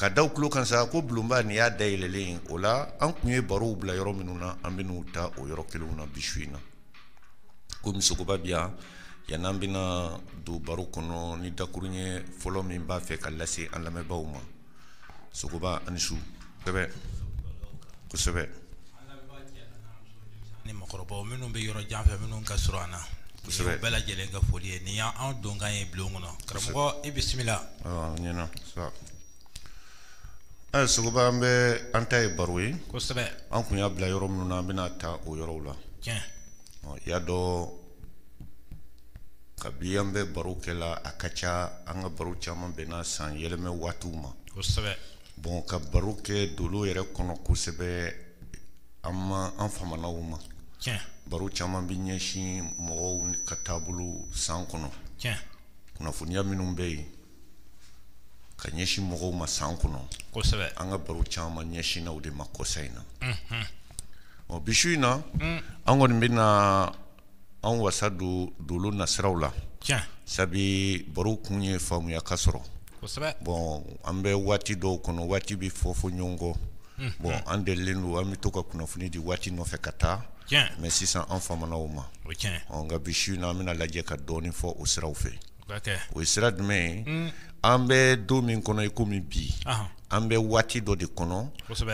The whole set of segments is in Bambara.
Ka d'aw tulo kan sa ko bulonba nin y'a da yɛlɛlen o la an tun ye barow bila yɔrɔ minnu na an bɛn'u ta o yɔrɔ kelenw na bi su in na komi sogoba bi yan yani an bɛna don baro kɔnɔ ni dakurunɲɛ fɔlɔ min b'a fɛ ka lase an lamɛnbaaw ma sogoba a ni su kosɛbɛ kosɛbɛ ni mɔgɔkɔrɔbaw minnu bɛ yɔrɔ jan fɛ minnu ka surun an na kosɛbɛ bɛɛ lajɛlen ka foli ye nin y'an donkan ye bulon kɔnɔ karamɔgɔ i bisimila ɲɛna ɛ sogoba an bɛ an ta ye baro ye kosɛbɛ an tun y'a bila yɔrɔ minnu na an bɛn'a ta o yɔrɔw la tiɲɛ y'a dɔn kabi an bɛ baro kɛ la a ka ca an ka baro caman bɛnna san yɛlɛmɛ waatiw ma kosɛbɛ bon ka baro kɛ dolo yɛrɛ kɔnɔ kosɛbɛ an ma an famana o ma tiɲɛ baro caman bɛ ɲɛsin mɔgɔw ka taabolo san kɔnɔ tiɲɛ kunnafoniya minnu bɛ yen ka ɲɛsin mɔgɔw ma san kɔnɔ kosɛbɛ an ka baro caman ɲɛsinna o de ma kɔsa in na ɔ bi su in na mm. an kɔni bɛna an wasa don dolo nasiraw la sabi baro kun ye faamuya ka sɔrɔ bɔn an bɛ waati dɔw kɔnɔ waati bɛ fɔfɔ ɲɔgɔn kɔ bɔn an delilen don an bɛ to ka kunnafoni di waati nɔfɛ ka taa mɛ sisan an famana o ma nka bi su in na an bɛn'a lajɛ ka dɔɔnin fɔ o siraw fɛ o ye sira jumɛn ye mm. an bɛ don min kɔnɔ i komi bi an bɛ waati dɔ de kɔnɔ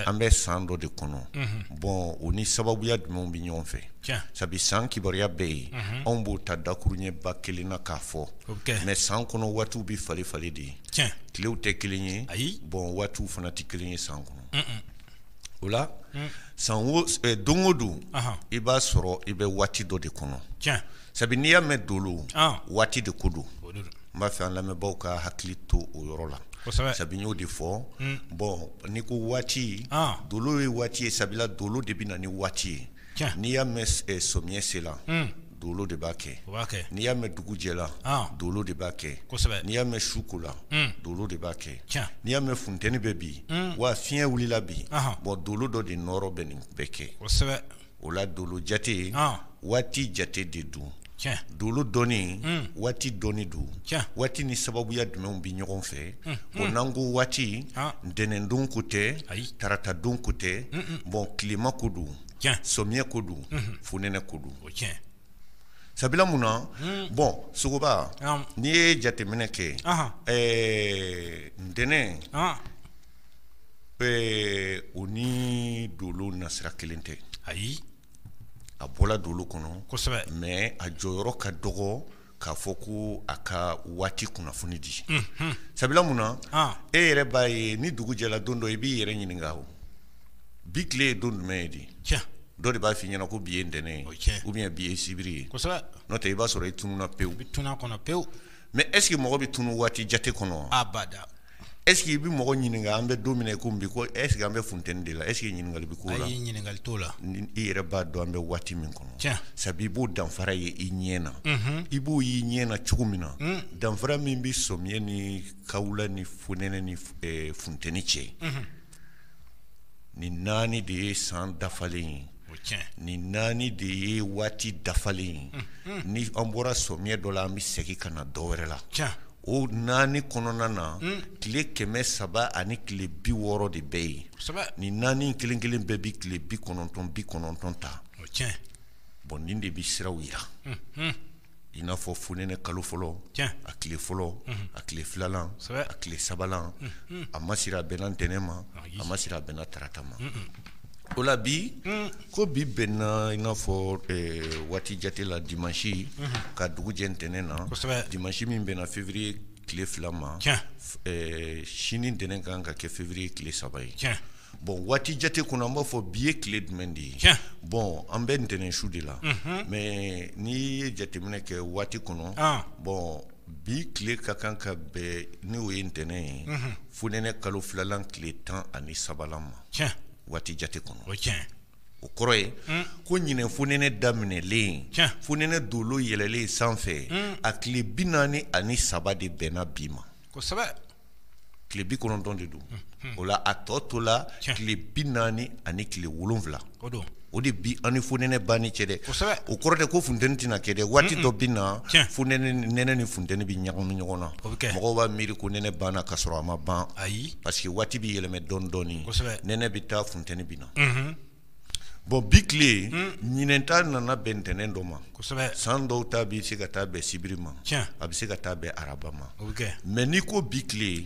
an bɛ san dɔ de kɔnɔ mhm. bɔn o ni sababuya jumɛnw bɛ ɲɔgɔn fɛ sabu san kibaruya bɛɛ yen mhm. anw b'o ta dakurunɲɛba kelen na k'a fɔ mɛ san kɔnɔ waatiw bɛ falen falen de ye tilew tɛ kelen ye bɔn waatiw fana tɛ kelen ye san kɔnɔ o la mm. san eh, don o don i b'a sɔrɔ i bɛ waati dɔ de kɔnɔ sabu n'i y'a mɛn dolo waati de ko don n b'a fɛ an lamɛnbaaw ka hakili to o yɔrɔ la sabu y'o de fɔ bɔn n'i ko waati dolo ye waati ye sabula dolo de bɛ na ni waati ye n'i y'a mɛn samiyɛ sela dolo de b'a kɛ n'i y'a mɛn dugu jɛla dolo de b'a kɛ n'i y'a mɛn su kola dolo de b'a kɛ n'i y'a mɛn funteni bɛ bi wa fiɲɛ wulila bi bɔn dolo dɔ de nɔɔrɔ bɛ nin bɛɛ kɛ o la dolo jate waati jate de don dolo dɔnni waati dɔnni don waati ni sababuya jumɛnw bɛ ɲɔgɔn fɛ o n'an ko waati ntɛnɛndon ko tɛ taratadon ko tɛ bɔn tilema ko don samiyɛ ko don fonɛnɛ ko don sabula mun na bɔn sogoba n'i ye jateminɛ kɛ ɛɛ ntɛnɛn Ɛɛ o ni dolo nasira kelen tɛ ayi a bɔla dolo kɔnɔ kosɛbɛ mais a jɔyɔrɔ ka dɔgɔ k'a fɔ ko a ka waati kunnafoni di sabula mun na e yɛrɛ b'a ye ni dugu jɛla don dɔ i b'i yɛrɛ ɲininka o bi tile ye don jumɛn ye di dɔ de b'a fɔ i ɲɛna ko bi ye ntɛnɛn ye ou bien bi ye sibiri ye n'o tɛ i b'a sɔrɔ i tununna pewu mais est-ce que mɔgɔ bɛ tunun waati jate kɔnɔ Est-ce que i bɛ mɔgɔ ɲininka an bɛ don min komi bi ko est-ce que an bɛ funteni de la est-ce que ɲininkali bɛ k'o la ayi ɲininkali t'o la i yɛrɛ b'a dɔn an bɛ waati min kɔnɔ sabu i b'o danfara ye i ɲɛ na i b'o y'i ɲɛ na cogo min na danfara min bɛ samiyɛ ni kawula ni fonɛnɛ ni funteni cɛ nin naani de ye san dafalen ye nin naani de ye waati dafalen ye ni an bɔra samiyɛ dɔ la an bɛ segin ka na dɔ wɛrɛ la o naani kɔnɔna na tile kɛmɛ saba ani tile bi wɔɔrɔ de bɛ yen nin naani kelen kelen bɛɛ bɛ tile bi kɔnɔntɔn bi kɔnɔntɔn ta bon nin de bɛ siraw yira i n'a fɔ fonɛnɛ kalo fɔlɔ a tile fɔlɔ a tile filalan a tile sabanan a ma siri a bɛnna ntɛnɛn ma a ma siri a bɛnna tarata ma o la bi hmm. ko bi bɛnna i n'a fɔ eh, waati jate la dimansi hmm. ka dugu jɛ ntɛnɛn na dimansi min bɛnna février tile fila ma eh, sini ntɛnɛn ka kan ka kɛ février tile saba ye bon waati jate kɔnɔ an b'a fɔ bi ye tile jumɛn de ye bon an bɛ ntɛnɛn su de la mhm. mais n'i ye jateminɛ kɛ waati kɔnɔ ah. bon bi tile ka kan ka bɛn ni o ye ntɛnɛn ye mhm. fonɛnɛ kalo filalan tile tan ani sabalan ma tiɲɛ waati jate kɔnɔ o tiɲɛ o kɔrɔ ye hmm. ko ɲinɛ fonɛnɛ daminɛlen tiɲɛ fonɛnɛ dolo yɛlɛlen sanfɛ hmm. a tile bi naani ani saba de bɛnna bi ma kosɛbɛ tile bi kɔnɔntɔn de don hmm. o la a tɔ tola tile bi naani ani tile wolonwula o don o de bi an ni fonɛnɛ banni cɛ dɛ kosɛbɛ o kɔrɔ tɛ ko funteni tɛna kɛ dɛ waati dɔ bɛ na tiɲɛ fonɛnɛ nɛnɛ ni funteni bɛ ɲagami ɲɔgɔn na o bɛ kɛ mɔgɔw b'a miiri ko nɛnɛ banna ka sɔrɔ a ma ban ayi parce que waati bɛ yɛlɛmɛ dɔɔni dɔɔni kosɛbɛ nɛnɛ bɛ taa funteni bɛ na bon bi tile ɲinɛn ta nana bɛn ntɛnɛn dɔ ma kosɛbɛ san dɔw ta bɛ se ka taa bɛn sibiri ma tiɲɛ a bɛ se ka taa bɛn araba ma o bɛ kɛ mais n'i ko bi tile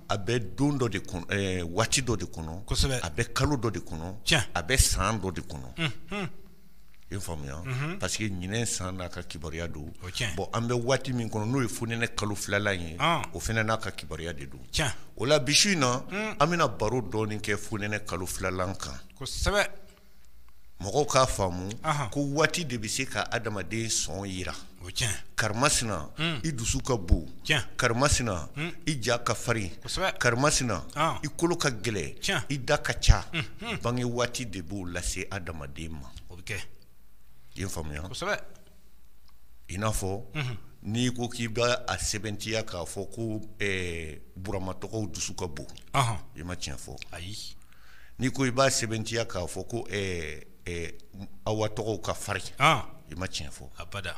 a bɛ don dɔ de kɔnɔ ɛɛ waati dɔ de kɔnɔ kosɛbɛ a bɛ kalo dɔ de kɔnɔ tiɲɛ a bɛ san dɔ de kɔnɔ unhun i faamuya mhm. parce que ɲinɛ san n'a ka kibaruya don bon an bɛ waati min kɔnɔ n'o ye fonɛnɛ kalo filalan ye ah. o fana n'a ka kibaruya de don o la bi su in na mm. an bɛna baro dɔɔni kɛ fonɛnɛ kalo filalan kan kosɛbɛ mɔgɔw k'a faamu ko waati de bɛ se ka adamaden sɔn jira karimasina i dusu ka bon karimasina i ja ka farin karimasina i kolo ka gɛlɛn i da ka ca bange waati de b'o lase adamaden ma i ye faamuya i n'a fɔ n'i ko k'i b'a sɛbɛntiya k'a fɔ ko burama tɔgɔw dusu ka bon i ma tiɲɛ fɔ ayi n'i ko i b'a sɛbɛntiya k'a fɔ ko ɛɛ ɛɛ awa tɔgɔw ka farin ah. i ma tiɲɛ fɔ abada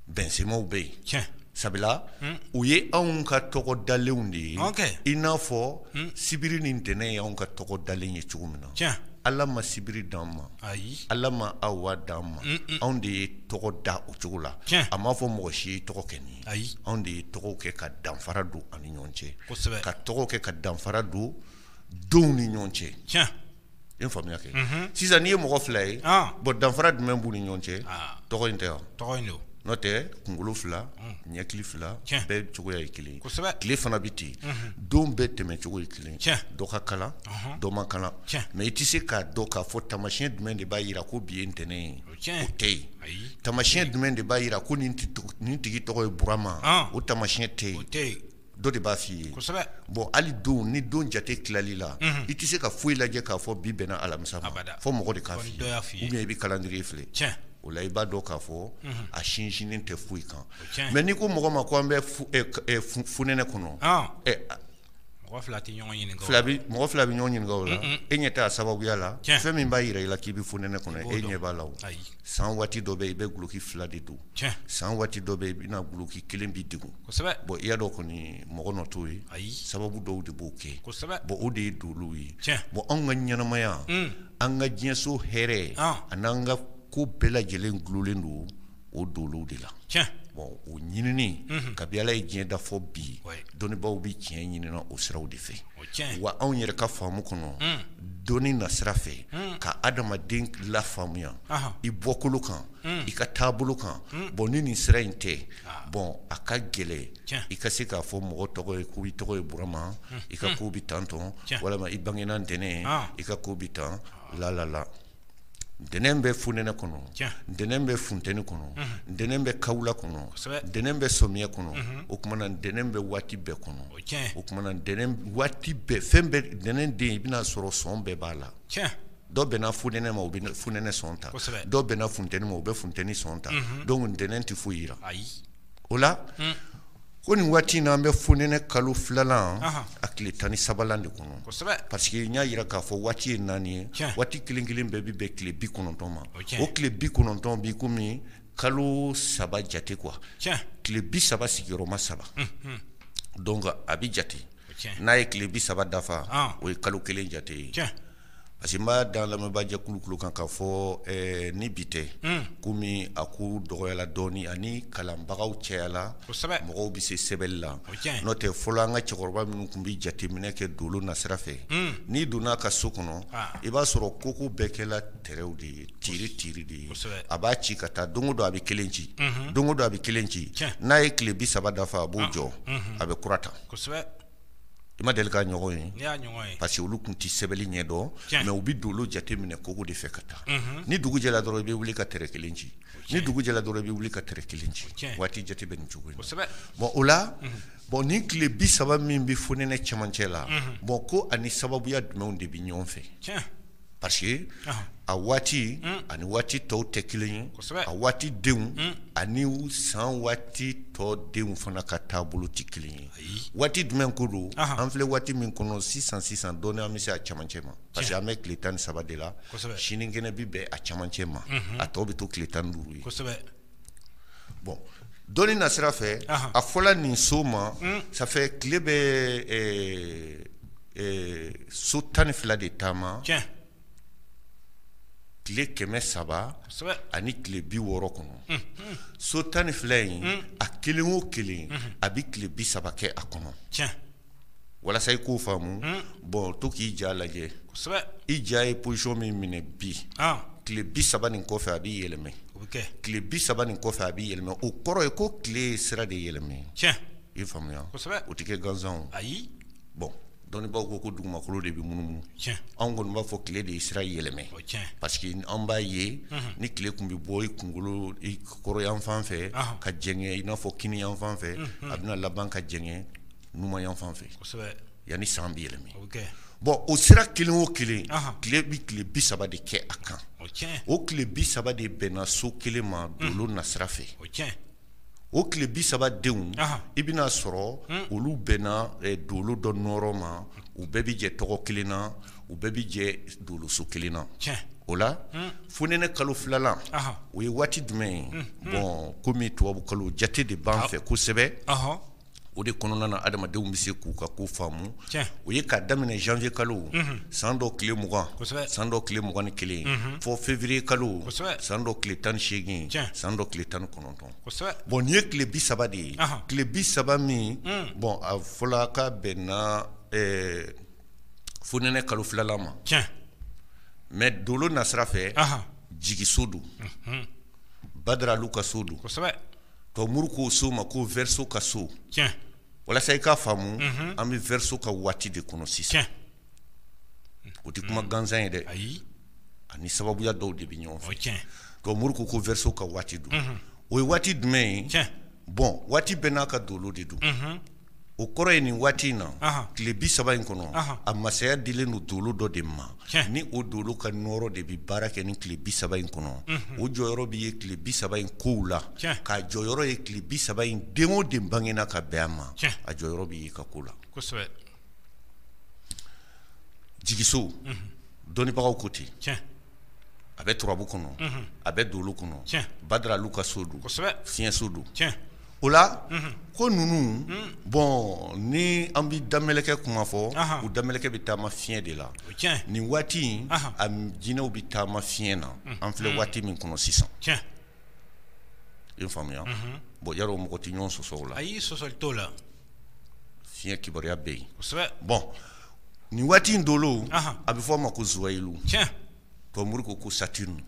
bɛnsemaw bɛ yen tiɲɛ sabula hmm. u ye anw ka tɔgɔ dalenw de ye i n'a fɔ hmm. sibiri ni ntɛnɛn ye anw ka tɔgɔ dalen ye cogo min na tiɲɛ ala ma sibiri d'an ma ayi ala ma awa d'an ma anw de ye tɔgɔ da o cogo la a m'a fɔ mɔgɔ si ye tɔgɔ kɛ nin ye ayi anw de ye tɔgɔw kɛ ka danfara don an ni ɲɔgɔn cɛ kosɛbɛ ka tɔgɔ kɛ ka danfara don denw ni ɲɔgɔn cɛ tiɲɛ i ye faamuya kɛ mhm. sisan n'i ye mɔgɔ fila ye ah. bon danfara jumɛn b'u ni ɲɔgɔn cɛ ah. tɔgɔ in tɛ wa tɔgɔ in don n'o tɛ kunkolo fila mm. ɲɛkili fila bɛɛ cogoya ye kelen ye tile fana bɛ ten mhm. don bɛɛ tɛmɛ cogo ye kelen dɔ ka kalan mhm. dɔ man kalan mɛ i tɛ se k'a dɔn k'a fɔ tamasiyɛn jumɛn de b'a jira ko bi ye ntɛnɛn ye o tɛ yen tamasiyɛn jumɛn de b'a jira ko nin tigi tɔgɔ ye burama ah. o tamasiyɛn tɛ yen dɔ de b'a f'i ye bon hali don ni don jate tilali la i tɛ se ka foyi lajɛ k'a fɔ bi bɛnna alamisa ma fɔ mɔgɔ de k'a fɔ i ye ou bien i bɛ calendrier filɛ o la i b'a dɔn k'a fɔ a sinsinnen tɛ foyi kan mɛ n'i ko mɔgɔ ma ko an bɛ fonɛnɛ kɔnɔ mɔgɔ fila bɛ ɲɔgɔn ɲininka o la e ɲɛ t'a sababuya la fɛn min b'a jira i la k'i bɛ fonɛnɛ kɔnɔ e ɲɛ b'a la san waati dɔ bɛ yen i bɛ gloki fila de don san waati dɔ bɛ yen i bɛna gloki kelen b'i degun bon i y'a dɔn kɔni mɔgɔ nɔ t'o ye ayi sababu dɔw de b'o kɛ bon o de ye dolow ye bon anw ka ɲɛnamaya an ka diɲɛso hɛrɛ ani an ka ko bɛɛ lajɛlen gulolen don o dolow de la bon o ɲinini kabi ala ye diɲɛ da fɔ bi dɔnnibaaw bɛ tiɲɛ ɲinin na o siraw de fɛ wa anw yɛrɛ ka faamu kɔnɔ dɔnni nasira fɛ ka adamaden lafaamuya i bɔkolo kan i ka taabolo kan bon ni nin sira in tɛ bon a ka gɛlɛn i ka se k'a fɔ mɔgɔ tɔgɔ ye ko i tɔgɔ ye burama i ka ko bɛ tan tɔn walima i bangena ntɛnɛn i ka ko bɛ tan lalala ntɛnɛn bɛ fonɛnɛ kɔnɔ ntɛnɛn bɛ funteni kɔnɔ ntɛnɛn bɛ kawula kɔnɔ ntɛnɛn bɛ samiya kɔnɔ o tuma na ntɛnɛn bɛ waati bɛɛ kɔnɔ o tuma na waati bɛɛ fɛn bɛɛ ntɛnɛn den i bɛn'a sɔrɔ sɔn bɛɛ b'a la dɔw bɛnna funɛnɛ ma u bɛ funɛnɛ sɔn ta dɔw bɛnna funteni ma u bɛ funteni sɔn ta mhm. donc ntɛnɛn tɛ foyi jira o la hmm. ko nin waati in na an bɛ funɛnɛ kalo filanan a tile tan ni sabalan de kɔnɔ parce que n y'a jira k'a fɔ waati ye naani ye waati kelen kelen bɛɛ bɛ bɛn tile bi kɔnɔntɔn ma o tile bi kɔnɔntɔn bi komi kalo saba jate quoi tile bi saba sigiyɔrɔma saba hmm, hmm. donc a bɛ jate n'a ye tile bi saba dafa ah. o ye kalo kelen jate ye Parce que n b'a da lamɛnbaajɛkulu tulo kan ka fɔ ɛɛ ni bi tɛ, un, komi a ko dɔgɔyala dɔɔnin ani kalanbagaw cayala, kosɛbɛ, mɔgɔw bɛ se sɛbɛnni la, o ye tiɲɛ ye, n'o tɛ fɔlɔ an ka cɛkɔrɔba minnu tun bɛ jateminɛ kɛ dolo nasira fɛ, un, n'i donna a ka so kɔnɔ, an, i b'a sɔrɔ koko bɛɛ kɛla tɛrɛw de ye, tiri tiri de ye, kosɛbɛ, a b'a ci ka taa don o don a bɛ kelen ci, unhun, don o don a bɛ kelen ci, tiɲɛ, n'a ye tile bi saba dafa a b'o jɔ, unhun, a bɛ kura ta, kosɛbɛ i ma deli k'a ɲɔgɔn ye parce que olu tun tɛ sɛbɛnni ɲɛ dɔn mais u bɛ dolo jate minɛ kogo de fɛ ka taa ni dugu jɛra dɔrɔn i bɛ wuli ka tɛrɛ kelen ci ni dugu jɛra dɔrɔn i bɛ wuli ka tɛrɛ kelen ci waati jate bɛ nin cogo in bon o la bon ni tile bi saba min bɛ fonɛnɛ cɛmancɛ la bon ko a ni sababuya jumɛnw de bɛ ɲɔgɔn fɛ parce que a waati ani waati tɔw tɛ kelen ye a waati denw ani san waati tɔ denw fana ka taabolo tɛ kelen ye waati jumɛn ko don an filɛ waati min kɔnɔ sisan sisan dɔɔnin an bɛ se a camancɛ ma parce que an bɛ tile tan ni saba de la sinikɛnɛ bɛ bɛn a camancɛ ma a tɔ bɛ to tile tan ni duuru ye bon dɔnni nasira fɛ a fɔla nin so ma hmm. sanfɛ tile bɛ so tan ni fila de taama tile kɛmɛ saba ani tile bi wɔɔrɔ kɔnɔ hmm, hmm. so tan ni fila in a kelen o kelen a bɛ tile bi saba kɛ a kɔnɔ walasa i k'o faamu bon to k'i ja lajɛ i ja ye position min minɛ bi tile bi saba nin kɔfɛ a b'i yɛlɛma tile bi saba nin kɔfɛ a b'i yɛlɛma o kɔrɔ ye ko tile ye sira de yɛlɛma i faamuya o tɛ kɛ gansan ayi bon dɔnnibaw ko ko dugumakolo de bɛ munumunu anw kɔni b'a fɔ tile de ye sira yɛlɛma parce que an b'a ye ni tile tun bɛ bɔ i kunkolo kɔrɔnyanfan fɛ ka jɛngɛ i n'a fɔ kininyanfan fɛ a bɛna laban ka jɛngɛ numanyanfan fɛ yanni san bɛ yɛlɛma bon o sira kelen o kelen tile bɛ tile bi saba de kɛ a kan o tile bi saba de bɛnna so kelen ma dolo nasira fɛ o tile bi saba denw i bɛn'a sɔrɔ olu bɛnna dolo dɔ nɔɔrɔ ma u bɛɛ bɛ jɛ tɔgɔ kelen na u bɛɛ bɛ jɛ doloso kelen na o la fonɛnɛ kalo filanan o ye waati jumɛn ye bon komi tubabu kalo jate de b'an fɛ kosɛbɛ o de kɔnɔna na adamadenw bɛ se k'u ka ko faamu o ye k'a daminɛ janvier kalo san dɔ tile mugan san dɔ tile mugan ni kelen fɔ février kalo san dɔ tile tan ni seegin san dɔ tile tan ni kɔnɔntɔn bon nin ye tile bi saba de ye tile bi saba min bon a fɔla k'a bɛnna fonɛnɛ kalo filanan ma mais dolo nasira fɛ jigiso don badara alu ka so don To muru k'o so ma ko Verseau ka so walasa i k'a faamu an bɛ Verseau ka waati de kɔnɔ sisan o tɛ kuma gansan ye dɛ ayi ani sababuya dɔw de bɛ ɲɔgɔn fɛ to muru ko ko Verseau ka waati don o ye waati jumɛn ye bon waati bɛɛ n'a ka dolo de don o kɔrɔ ye nin waati in na tile bi saba in kɔnɔ a masaya dilen don dolo dɔ de ma ni o dolo ka nɔɔrɔ de bɛ baara kɛ nin tile bi saba in kɔnɔ o jɔyɔrɔ bɛ ye tile bi saba in kow la k'a jɔyɔrɔ ye tile bi saba in den o den bangena ka bɛn a ma a jɔyɔrɔ bɛ ye a ka ko la jigiso dɔnnibagaw ko ten a bɛ turabu kɔnɔ a bɛ dolo kɔnɔ badara alu ka so don fiɲɛso don O la ko ninnu bon ni an bɛ damɛlɛkɛ kuma fɔ u damɛlɛkɛ bɛ taama fiɲɛ de la nin waati in a jinɛw bɛ taama fiɲɛ na an filɛ waati min kɔnɔ sisan i faamuya bon Yaro mɔgɔ tɛ ɲɔgɔn sɔsɔ o la ayi sɔsɔli t'o la fiɲɛ kibaruya bɛ yen bon nin waati in dolo a bɛ fɔ a ma ko Zuwɛyilu To mori ko ko Saturne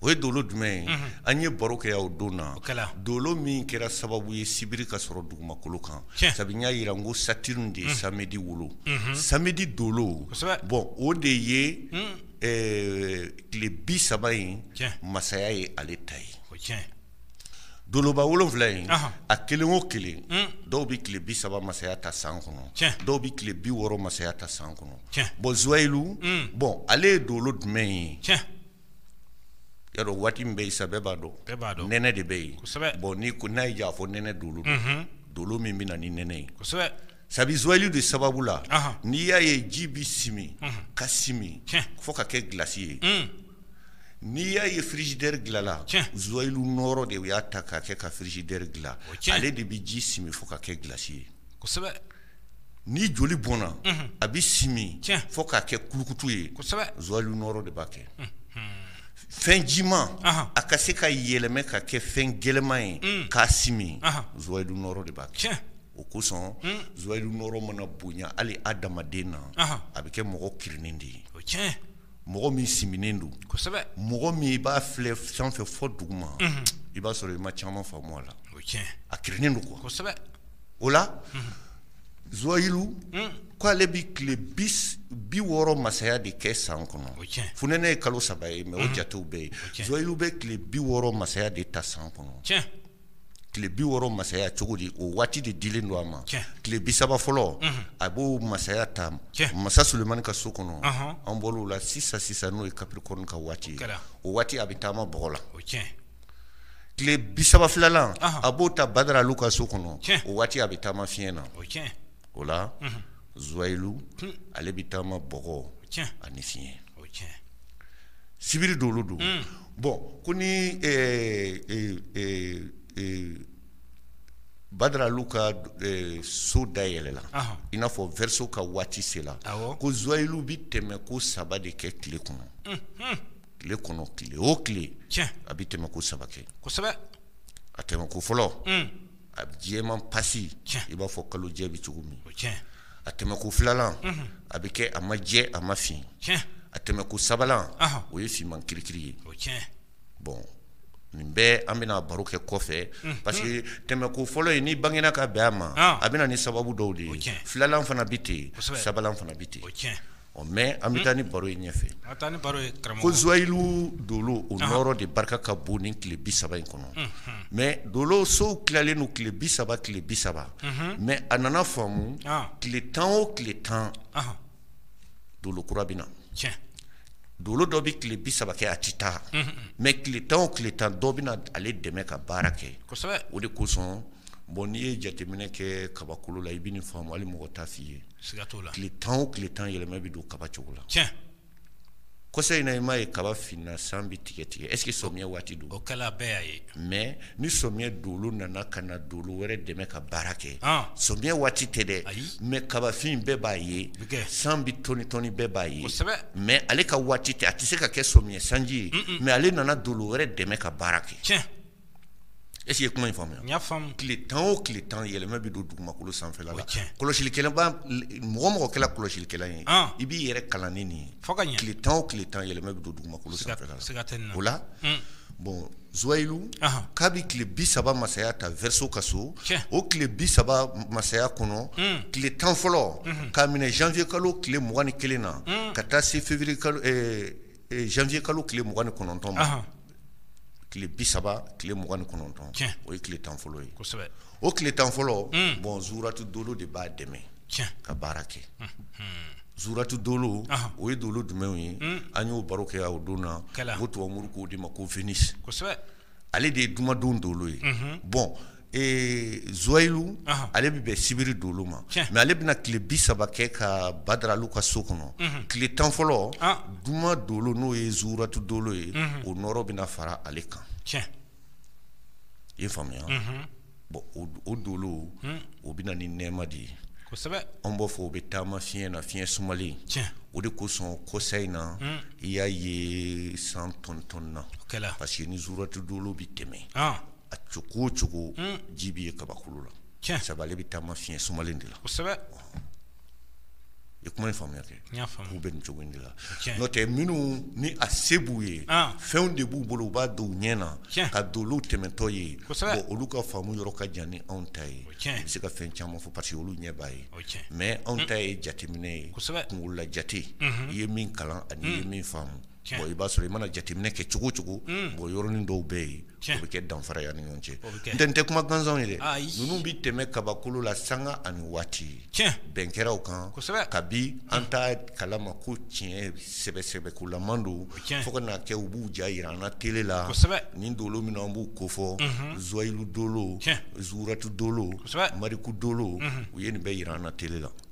o ye dolo jumɛn ye an ye baro kɛ o don na dolo min kɛra sababu ye sibiri ka sɔrɔ dugumakolo kan sabu n y'a jira n ko Saturne de ye samedi wolo samedi dolo bon o de ye tile bi saba in masaya ye ale ta ye doloba wolonwula in a kelen o kelen dɔw bɛ tile bi saba masaya ta san kɔnɔ dɔw bɛ tile bi wɔɔrɔ masaya ta san kɔnɔ bon Zuwɛyilu bon ale ye dolo jumɛn ye Yaro waati min bɛ yen sa bɛɛ b'a dɔn nɛnɛ de bɛ yen bon n' ko n'a y'a fɔ nɛnɛ dolo dolo min bɛ na ni nɛnɛ ye sabu Zuwɛyilu de sababu la n'i y'a ye ji bɛ simi ka simi fo ka kɛ glace ye N'i y'a ye frigidaire dilanna, tiɲɛ, Zuwɛyilu nɔɔrɔ de y'a ta k'a kɛ ka frigidaire dilan, o ye tiɲɛ ye, ale de bɛ ji simi fo ka kɛ glace ye, kosɛbɛ, ni joli bɔnna, unhun, a bɛ simi, tiɲɛ, fo k'a kɛ kulukutu ye, kosɛbɛ, Zuwɛyilu nɔɔrɔ de b'a kɛ, unhun, fɛn jiman, anhan, a ka se ka yɛlɛma ka kɛ fɛn gɛlɛman ye, un, k'a simi, anhan, Zuwɛyilu nɔɔrɔ de b'a kɛ, tiɲɛ, o kosɔn, un, Zuwɛyilu nɔɔrɔ mana bonya hali hadamaden na, anhan, a bɛ kɛ mɔgɔ kirinnen de ye, o ye tiɲɛ ye. mɔgɔ min siminen don mɔgɔ min i b'a filɛ san fɛ fɔ dugu ma i b'a sɔrɔ i ma caman faamu a la a kirinnen don quoi o la Zuwayilu hmm. k' ale bɛ tile bi wɔɔrɔ masaya de kɛ san kɔnɔ funɛnɛ ye kalo saba ye mais o hmm. jatew bɛ yen Zuwayilu bɛ tile bi wɔɔrɔ masaya de ta san kɔnɔ tile bi wɔɔrɔ masaya cogo di o waati de dilen don a ma tile bi saba fɔlɔ a b'o masaya ta masa Sulemani ka so kɔnɔ an bɔr'o la sisan sisan n'o ye Capricorne ka waati o waati a bɛ taama bɔgɔ la tile bi saba filanan a b'o ta Badaralu ka so kɔnɔ o waati a bɛ taama fiɲɛ na o la Zuwayilu ale bɛ taama bɔgɔ ani fiɲɛ Sibiri dolo don bon ko ni Badaralu ka so dayɛlɛla i n'a fɔ Verseau ka waati sera ko Zuwayilu bɛ tɛmɛ ko saba de kɛ tile kɔnɔ tile kɔnɔ tile o tile a bɛ tɛmɛ ko saba kɛ a tɛmɛ ko fɔlɔ a jɛman pasi i b'a fɔ kalo jɛ bɛ cogo min a tɛmɛ ko filalan a bɛ kɛ a ma jɛ a ma fin a tɛmɛ ko sabanan o ye finman kirikiri ye bon nin bɛɛ an bɛna baro kɛ kɔfɛ parce que tɛmɛ ko fɔlɔ in ni bangena ka bɛn a ma a bɛ na ni sababu dɔw de ye filalan fana bɛ ten sabanan fana bɛ ten ɔ mais an bɛ taa ni baro ye ɲɛfɛ, an bɛ taa ni baro ye karamɔgɔ, ko Zouayilou Dolo o nɔɔrɔ de barika ka bon ni tile bi saba in kɔnɔ, unhun, mais Dolo sow tilalen don tile bi saba tile bi saba, unhun, mais a nana faamu tile tan o tile tan Dolo kura bɛ na, tiɲɛ, Dolo dɔ bɛ tile bi saba kɛ a tɛ taa, unhun, mais tile tan o tile tan dɔ bɛ na ale dɛmɛ ka baara kɛ, kosɛbɛ, o de kosɔn bon n'i ye jateminɛ kɛ kabakolo la i bɛ nin faamu hali mɔgɔ t'a f'i ye siga t'o la, tile tan o tile tan yɛlɛma bɛ don kaba cogo la, tiɲɛ, kɔsa in na i m'a ye kaba finna san bɛ tigɛ tigɛ est ce que samiyɛ waati don, o kɛla bɛɛ y'a ye, mais ni samiyɛ dolo nana ka na dolo wɛrɛ dɛmɛ ka baara kɛ, an, samiyɛ waati tɛ dɛ, ayi, mais kabafin bɛɛ b'a ye, o bɛ kɛ, san bɛ tɔni tɔni bɛɛ b'a ye, kosɛbɛ, mais ale ka waati tɛ a tɛ se ka kɛ samiyɛ sanji ye, un un, mais ale nana dolo wɛrɛ dɛmɛ ka baara kɛ, tiɲɛ E ye kuma in faamuya y'a faamu tile tan o tile tan yɛlɛma bɛ don dugumakolo sanfɛ la kɔlɔsi mɔgɔ mɔgɔ kɛla kɔlɔsilikɛla ye i b'i yɛrɛ kalan ni nin ye tile tan o tile tan yɛlɛma bɛ don dugumakolo sanfɛ o la bon Zuwayilu k'a bɛ tile bi saba masaya ta Verseau ka so o tile bi saba masaya kɔnɔ tile tan fɔlɔ k'a minɛ janvier kalo tile mugan ni kelen na ka taa se fi janvier kalo tile mugan ni kɔnɔntɔn ma tile bi saba tile mugan ni kɔnɔntɔn o ye tile tan fɔlɔ ye o tile tan fɔlɔ hmm. bɔn zuratu dolo de b'a dɛmɛ ka baara kɛ hmm. Hmm. zuratu dolo o ye dolo jumɛnw ye an y'o baro kɛ o don na ko tubabu moriw k'o de ma ko Vénus ale de ye jumadon dolo ye bɔn Ee zuwayilu ale bɛ bɛn sibiri dolo ma mɛ ale bɛna tile bi saba kɛ ka badaralu ka so kɔnɔ tile tan fɔlɔ juma dolo n'o ye zuratu dolo ye o nɔɔrɔ bɛna fara ale kan i y'a faamuya bɔn o dolo o bɛ na ni nɛɛma de ye an b'a fɔ o bɛ taama fiɲɛ na fiɲɛ sumalen o de kosɔn kɔsa in na i y'a ye san tɔntɔnna parce que ni zuratu dolo bɛ tɛmɛ a cogo o cogo ji bɛ ye kabakolo la sabu ale bɛ taama fiɲɛ sumalen de la i kuma ye faamuya kɛ k'u bɛ nin cogo de la n'o tɛ minnu ni a se b'u ye fɛnw de b'u bolo u b'a don u ɲɛ na ka dolow tɛmɛtɔ ye olu ka faamu yɔrɔ ka jan ni anw ta ye u bɛ se ka fɛn caman fɔ parce que olu ɲɛ b'a ye mɛ anw ta ye jateminɛ ye kunkolola jate i ye min kalan ani ye min faamu i b'a sɔrɔ i mana jateminɛ kɛ cogo o cogo bɔn yɔrɔnin dɔw bɛ yen o bɛ kɛ danfara ye an ni ɲɔgɔn cɛ n'o tɛ u tɛ kuma gansanw ye dɛ ninnu bɛ tɛmɛ kabakolo la sanga ani waati bɛɛ an kɛra o kan kabi an t'a kala ma ko tiɲɛ sɛbɛ sɛbɛkolaman don fo ka na kɛ u b'u ja jira an na tele la nin dolo minnu an b'u kofɔ zuwayilu dolo zuratu dolo mariku dolo u ye nin bɛɛ jira an na tele la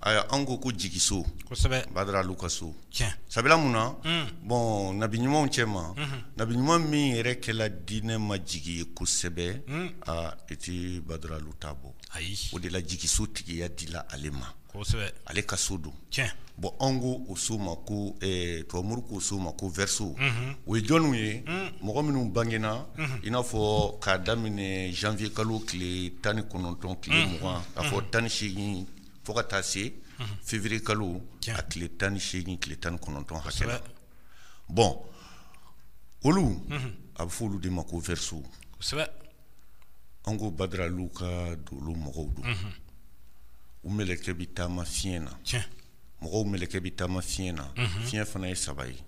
Ayiwa an ko ko jigiso badaralu ka so sabula mun na bɔn nabi ɲumanw cɛ ma nabi ɲuman min yɛrɛ kɛla diinɛ ma jigi ye kosɛbɛ aa i tɛ badaralu ta bɔ ayi o de la jigiso tigiya dila ale ma ale ka so don bɔn an ko o so ma ko tubabu moriw k'o so ma ko verseau o ye jɔnw ye mɔgɔ minnu bangena i n'a fɔ k'a daminɛ janvier kalo tile tan ni kɔnɔntɔn tile mugan k'a fɔ tan ni seegin fo ka taa se février kalo a tile tan ni seegin tile tan ni kɔnɔntɔn hakɛ la bɔn olu a bɛ fɔ olu de ma ko verseau an ko badaralu ka dolo mɔgɔw don u mɛlɛkɛ bɛ taama fiɲɛ na mɔgɔw mɛlɛkɛ bɛ taama fiɲɛ na fiɲɛ fana ye saba ye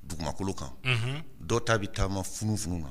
dugumakolo kan dɔ ta bɛ taama funufunu na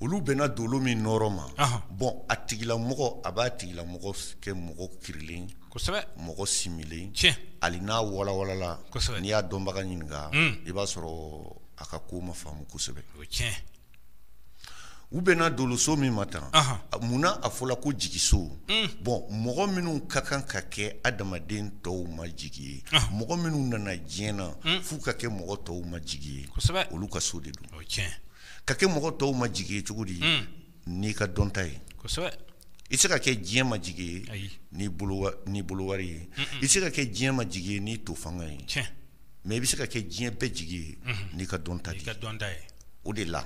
olu bɛnna dolo min nɔɔrɔ ma bɔn a tigila mɔgɔ a b'a tigila mɔgɔ kɛ mɔgɔ kirilen mɔgɔ similen hali n'a walawalala n'i y'a dɔnbaga ɲininka i b'a sɔrɔ a ka ko ma faamu kosɛbɛ u bɛnna doloso min ma tan munna a fɔla ko jigiso bɔn mɔgɔ minnu ka kan ka kɛ adamaden tɔw ma jigi ye mɔgɔ minnu nana diɲɛ na f'u ka kɛ mɔgɔ tɔw ma jigi ye olu ka so de don o tiɲɛ ka kɛ mɔgɔ tɔw ma jigi ye cogo di n'i ka dɔnta ye kosɛbɛ i se ka kɛ diɲɛ ma jigi ye n'i bolo wari ye i se ka kɛ diɲɛ ma jigi ye n'i to fanga ye tiɲɛ mɛ i bɛ se ka kɛ diɲɛ bɛɛ jigi ye n'i ka dɔnta i ka dɔnta ye o de la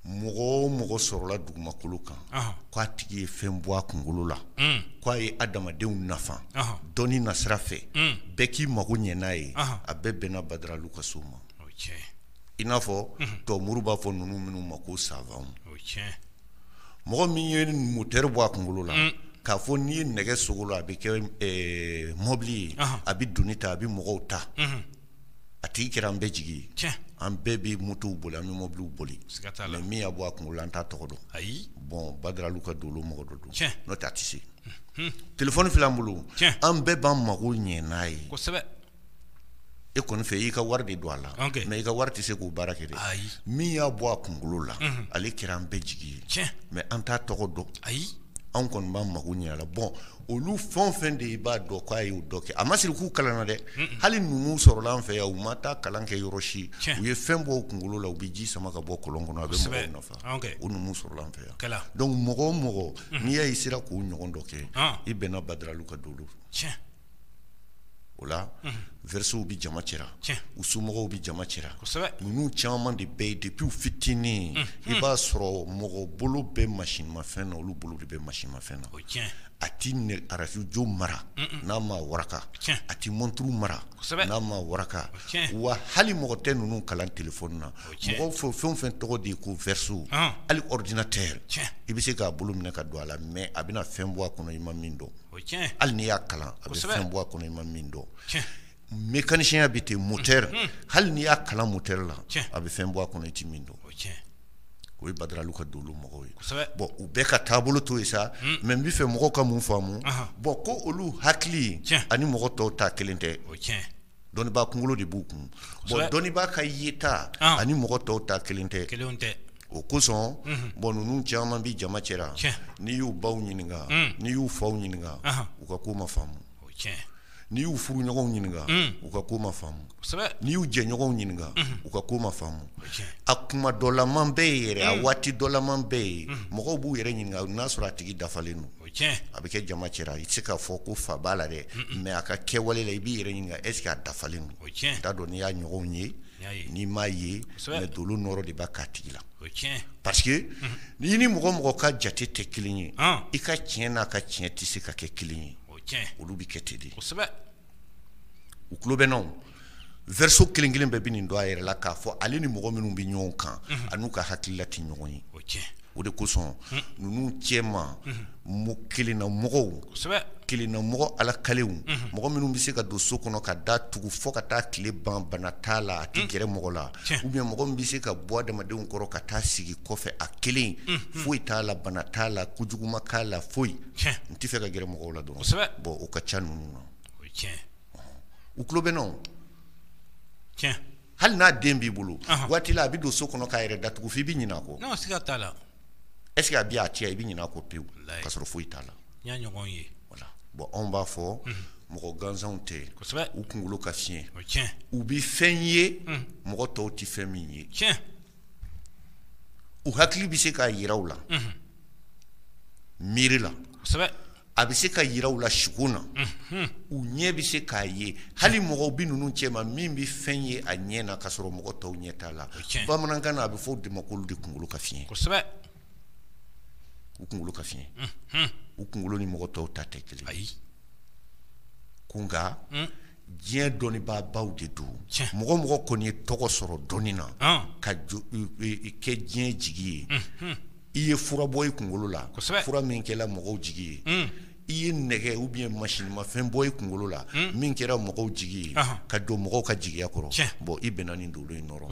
mɔgɔ o mɔgɔ sɔrɔla dugumakolo kan k'a tigi ye fɛn bɔ a kunkolo la k'a ye adamadenw nafa dɔnni nasira fɛ bɛɛ k'i mago ɲɛ n'a ye a bɛɛ bɛnna badaralu ka so ma i n'a fɔ to muru b'a fɔ ninnu minnu ma ko savanw mɔgɔ min ye motɛri bɔ a kunkolo la k'a fɔ n'i ye nɛgɛ sogo la a bɛ kɛ mɔbili ye a bɛ doni ta a bɛ mɔgɔw ta a tigi kɛra an bɛɛ jigi ye an bɛɛ bɛ motow boli an bɛ mɔbiliw boli mɛ min y'a bɔ a kunkolo la an t'a tɔgɔ dɔn ayi bɔn badaralu ka dolo mɔgɔ dɔ don n'o tɛ a tɛ se telefɔni filɛ an bolo an bɛɛ b'an mago ɲɛ n'a ye e kɔni fɛ y'i ka wari de don a la mɛ i ka wari tɛ se k'o baara kɛ ayi min y'a bɔ a kunkolo la ale kɛra an bɛɛ jigi ye mɛ an t'a tɔgɔ dɔn ayi anw kɔni b'an mago ɲɛ a la bɔn olu fɛn o fɛn de i b'a dɔn k'a y'o dɔ kɛ a ma siri k'u kalanna dɛ hali numu sɔrɔla an fɛ yan u ma taa kalan kɛ yɔrɔ si u ye fɛn bɔ u kunkolo la u bɛ ji sama ka bɔ kɔlɔn kɔnɔ a bɛ mɔgɔw nafa o numu sɔrɔla an fɛ yan dɔnku mɔgɔ o mɔgɔ n'i y'a ye a sera k'o ɲɔgɔn dɔ kɛ i bɛnna badaralu ka dolo o la vɛrisow bɛ jama cɛra u somɔgɔw bɛ jama cɛra ninnu caman de bɛɛ ye depi u fitinin i b'a sɔrɔ mɔgɔ bolo bɛ masinimafɛn na olu bolo de bɛ masinimafɛn na a tɛ arajo mara n'a ma waraka a tɛ mɔnturu mara n'a ma waraka wa hali mɔgɔ tɛ ninnu kalan telefɔni na mɔgɔ fɛ fɛn o fɛn tɔgɔ de ye ko vɛriso hali ɔridinatɛri i bɛ se k'a bolo minɛ ka don a la mɛ a bɛna fɛn bɔ a kɔnɔ i ma min dɔn Hali n'i y'a kalan a bɛ fɛn bɔ a kɔnɔ i ma min dɔn mekanisiyɛn bɛ ten motɛri hali n'i y'a kalan motɛri la a bɛ fɛn bɔ a kɔnɔ i tɛ min dɔn o ye badaralu ka dolo mɔgɔw ye bɔn u bɛɛ ka taabolo to yen sa mɛ n bɛ fɛ mɔgɔw ka mun faamumu bɔn ko olu hakili ani mɔgɔ tɔw ta kelen tɛ dɔnnibaa kunkolo de b'u kun bɔn dɔnnibaa ka yeta ani mɔgɔ tɔw ta kelen tɛ kelen tɛ o kosɔn bɔn ninnu caman bɛ jama cɛra n'i y'u baw ɲininka n'i y'u faw ɲininka u ka ko ma faamu n'i y'u furuɲɔgɔnw ɲininka u ka ko ma faamu n'i y'u jɛɲɔgɔnw ɲininka u ka ko ma faamu a kuma dɔlaman bɛɛ ye yɛrɛ a waati dɔlaman bɛɛ ye mɔgɔw b'u yɛrɛ ɲininka n'a sɔrɔ a tigi dafalen don a bɛ kɛ jama cɛra i tɛ se k'a fɔ ko fa b'a la dɛ mɛ a ka kɛwale la i b'i yɛrɛ ɲininka ɛsike a dafalen don n t'a dɔn n'i y'a ɲɔgɔnw ye n'i m'a ye mɛ dolo nɔɔrɔ de b'a k'a tigi la parce que n'i ni mɔgɔ o mɔgɔ ka jate tɛ kelen ye i ka tiɲɛ n'a ka tiɲɛ tɛ se ka kɛ kelen ye olu bɛ kɛ ten de u tulo bɛ n na verseau kelen kelen bɛɛ bɛ nin dɔn a yɛrɛ la k'a fɔ ale ni mɔgɔ minnu bɛ ɲɔgɔn kan ani n'u ka hakilila tɛ ɲɔgɔn ye o cɛ o de kosɔn ninnu cɛ ma kelenna mɔgɔw kelenna mɔgɔ ala kaliw mɔgɔ minnu bɛ se ka don so kɔnɔ ka da tugu fo ka taa tile ban bana t'a la a tɛ gɛrɛ mɔgɔ la ou bien mɔgɔ min bɛ se ka bɔ adamadenw kɔrɔ ka taa sigi kɔfɛ a kelen foyi t'a la bana t'a la kojugu ma k'a la foyi n tɛ fɛ ka gɛrɛ mɔgɔw la dɔrɔn bon o ka ca ninnu o tiɲɛ u tulo bɛ n na hali n'a den b'i bolo waati la a bɛ don so kɔnɔ k'a yɛrɛ da tugu f'i bɛ ɲinɛ a kɔ siga t'a la est-ce que a bɛ a cɛ i bɛ ɲinɛ a kɔ pewu ka sɔrɔ foyi t'a la n y'a ɲɔgɔn ye bon anw b'a fɔ mɔgɔ gansanw tɛ u kunkolo ka fiɲɛ u bɛ fɛn ye mɔgɔ tɔw tɛ fɛn min ye tiɲɛ u hakili bɛ se k'a jira u la miiri la a bɛ se k'a jira u la suko na u ɲɛ bɛ se k'a ye hali mɔgɔw bɛ ninnu cɛ ma min bɛ fɛn ye a ɲɛ na ka sɔrɔ mɔgɔ tɔw ɲɛ t'a la bamanankan na a bɛ fɔ o de ma k'olu de kunkolo ka fiɲɛ kosɛbɛ u kunkolo ka fiɲɛ u kunkolo ni mɔgɔ tɔw ta tɛ kelen ayi ko nka hmm. diɲɛ dɔnnibaabaw de don mɔgɔ o mɔgɔ kɔni ye tɔgɔ sɔrɔ dɔnni na ka kɛ diɲɛ jigi ye hmm, hmm. i ye fura bɔ i kunkolo la fura min kɛra mɔgɔw jigi ye hmm. i ye nɛgɛ ou bien masinmafɛn bɔ i kunkolo la hmm. min kɛra mɔgɔw jigi ye ka don mɔgɔw ka jigiya kɔrɔ bon i bɛnna nin dolo in nɔrɔ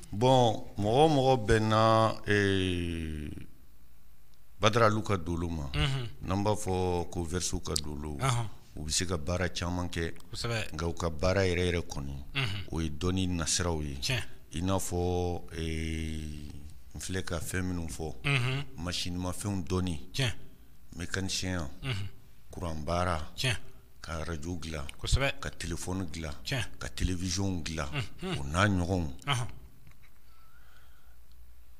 Bon mɔgɔ o mɔgɔ bɛnna badaralu ka dolo ma n'an b'a fɔ ko verseau ka dolo u bɛ se ka baara caman kɛ nka u ka baara yɛrɛ yɛrɛ kɔni o ye dɔnni nasiraw ye i n'a fɔ n filɛ ka fɛn minnu fɔ masinmafɛnw dɔnni mécanicien kuran baara ka radio dilan kosɛbɛ ka téléphone dilan tiɲɛ ka télévision dilan o n'a ɲɔgɔnw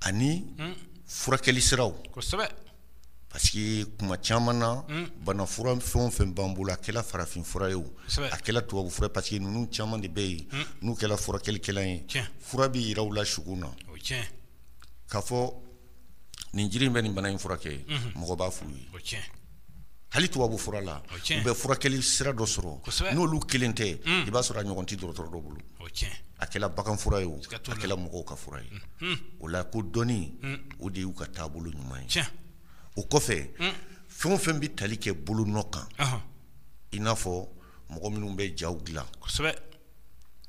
ani furakɛli siraw kosɛbɛ parce que kuma caman na bana fura fɛn o fɛn b'an bolo a kɛla farafin fura ye o a kɛla tubabu fura parce que ninnu caman de bɛ yen n'u kɛla furakɛlikɛla ye fura bɛ jira u la sugo na k'a fɔ nin jiri in bɛ nin bana in furakɛ mhm. mɔgɔ b'a f'u ye hali tubabu fura la u bɛ furakɛli sira dɔ sɔrɔ n'olu kelen tɛ mm. i b'a sɔrɔ a ɲɔgɔn tɛ dɔgɔtɔrɔ dɔ bolo a kɛla bagan fura ye o a kɛla mɔgɔw ka fura ye mm. o la ko dɔnni mm. o de y'u ka taabolo ɲuman ye o kɔfɛ fɛn o fɛn bɛ tali kɛ bolonɔ kan i n'a fɔ mɔgɔ minnu bɛ jaw dilan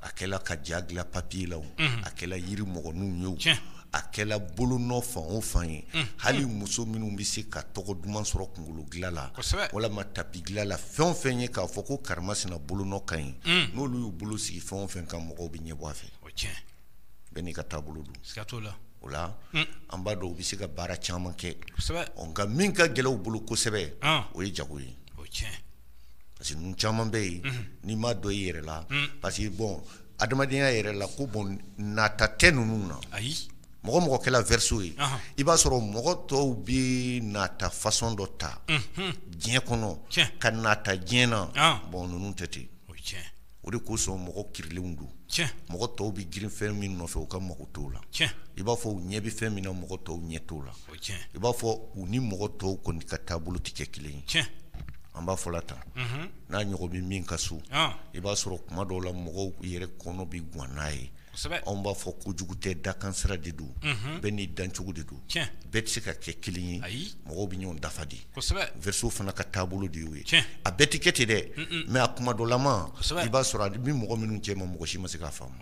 a kɛla ka ja dilan papier la o, unhun, a kɛla yiri mɔgɔninw ye o, tiɲɛ, a kɛla bolonɔ fan o fan ye, unhun, hali muso minnu bɛ se ka tɔgɔ duman sɔrɔ kunkolo dilan la, kosɛbɛ, walima tapi dilan la fɛn o fɛn ye k'a fɔ ko karimasina bolonɔ ka ɲi, un, n'olu y'u bolo sigi fɛn o fɛn kan mɔgɔw bɛ ɲɛbɔ a fɛ, o ye tiɲɛ ye, bɛɛ n'i ka taabolo don, siga t'o la, o la, un, an b'a dɔn u bɛ se ka baara caman kɛ, kosɛbɛ, ɔ nka min ka gɛlɛn u bolo kosɛbɛ, an, o ye jago ye, o ye tiɲɛ ye. parce que ninnu caman bɛ yen n'i m'a dɔn i yɛrɛ la parce que bon adamadenya yɛrɛ la ko bon nata tɛ ninnu na ayi mɔgɔ mɔgɔ kɛla verseau ye i b'a sɔrɔ mɔgɔ tɔw bɛ nata façon dɔ ta diɲɛ kɔnɔ ka nata diɲɛ na bon ninnu tɛ ten o de kosɔn mɔgɔ kirilenw don mɔgɔ tɔw bɛ girin fɛn min nɔfɛ u ka mago t'o la i b'a fɔ u ɲɛ bɛ fɛn min na mɔgɔ tɔw ɲɛ t'o la i b'a fɔ u ni mɔgɔ tɔw kɔni ka taabolo tɛ kɛ kelen ye an b'a fɔla tan n'a ɲɔgɔn bɛ min ka so i b'a sɔrɔ kuma dɔw la mɔgɔw yɛrɛ kɔnɔ bɛ gan n'a ye anw b'a fɔ kojugu tɛ dakansira de don bɛɛ n'i dancogo de don bɛɛ tɛ se ka kɛ kelen ye mɔgɔw bɛ ɲɔgɔn dafa de verseau fana ka taabolo de y'o ye a bɛɛ tɛ kɛ ten dɛ mais a kuma dɔlama i b'a sɔrɔ a bɛ mɔgɔ minnu cɛma mɔgɔ si ma se k'a faamu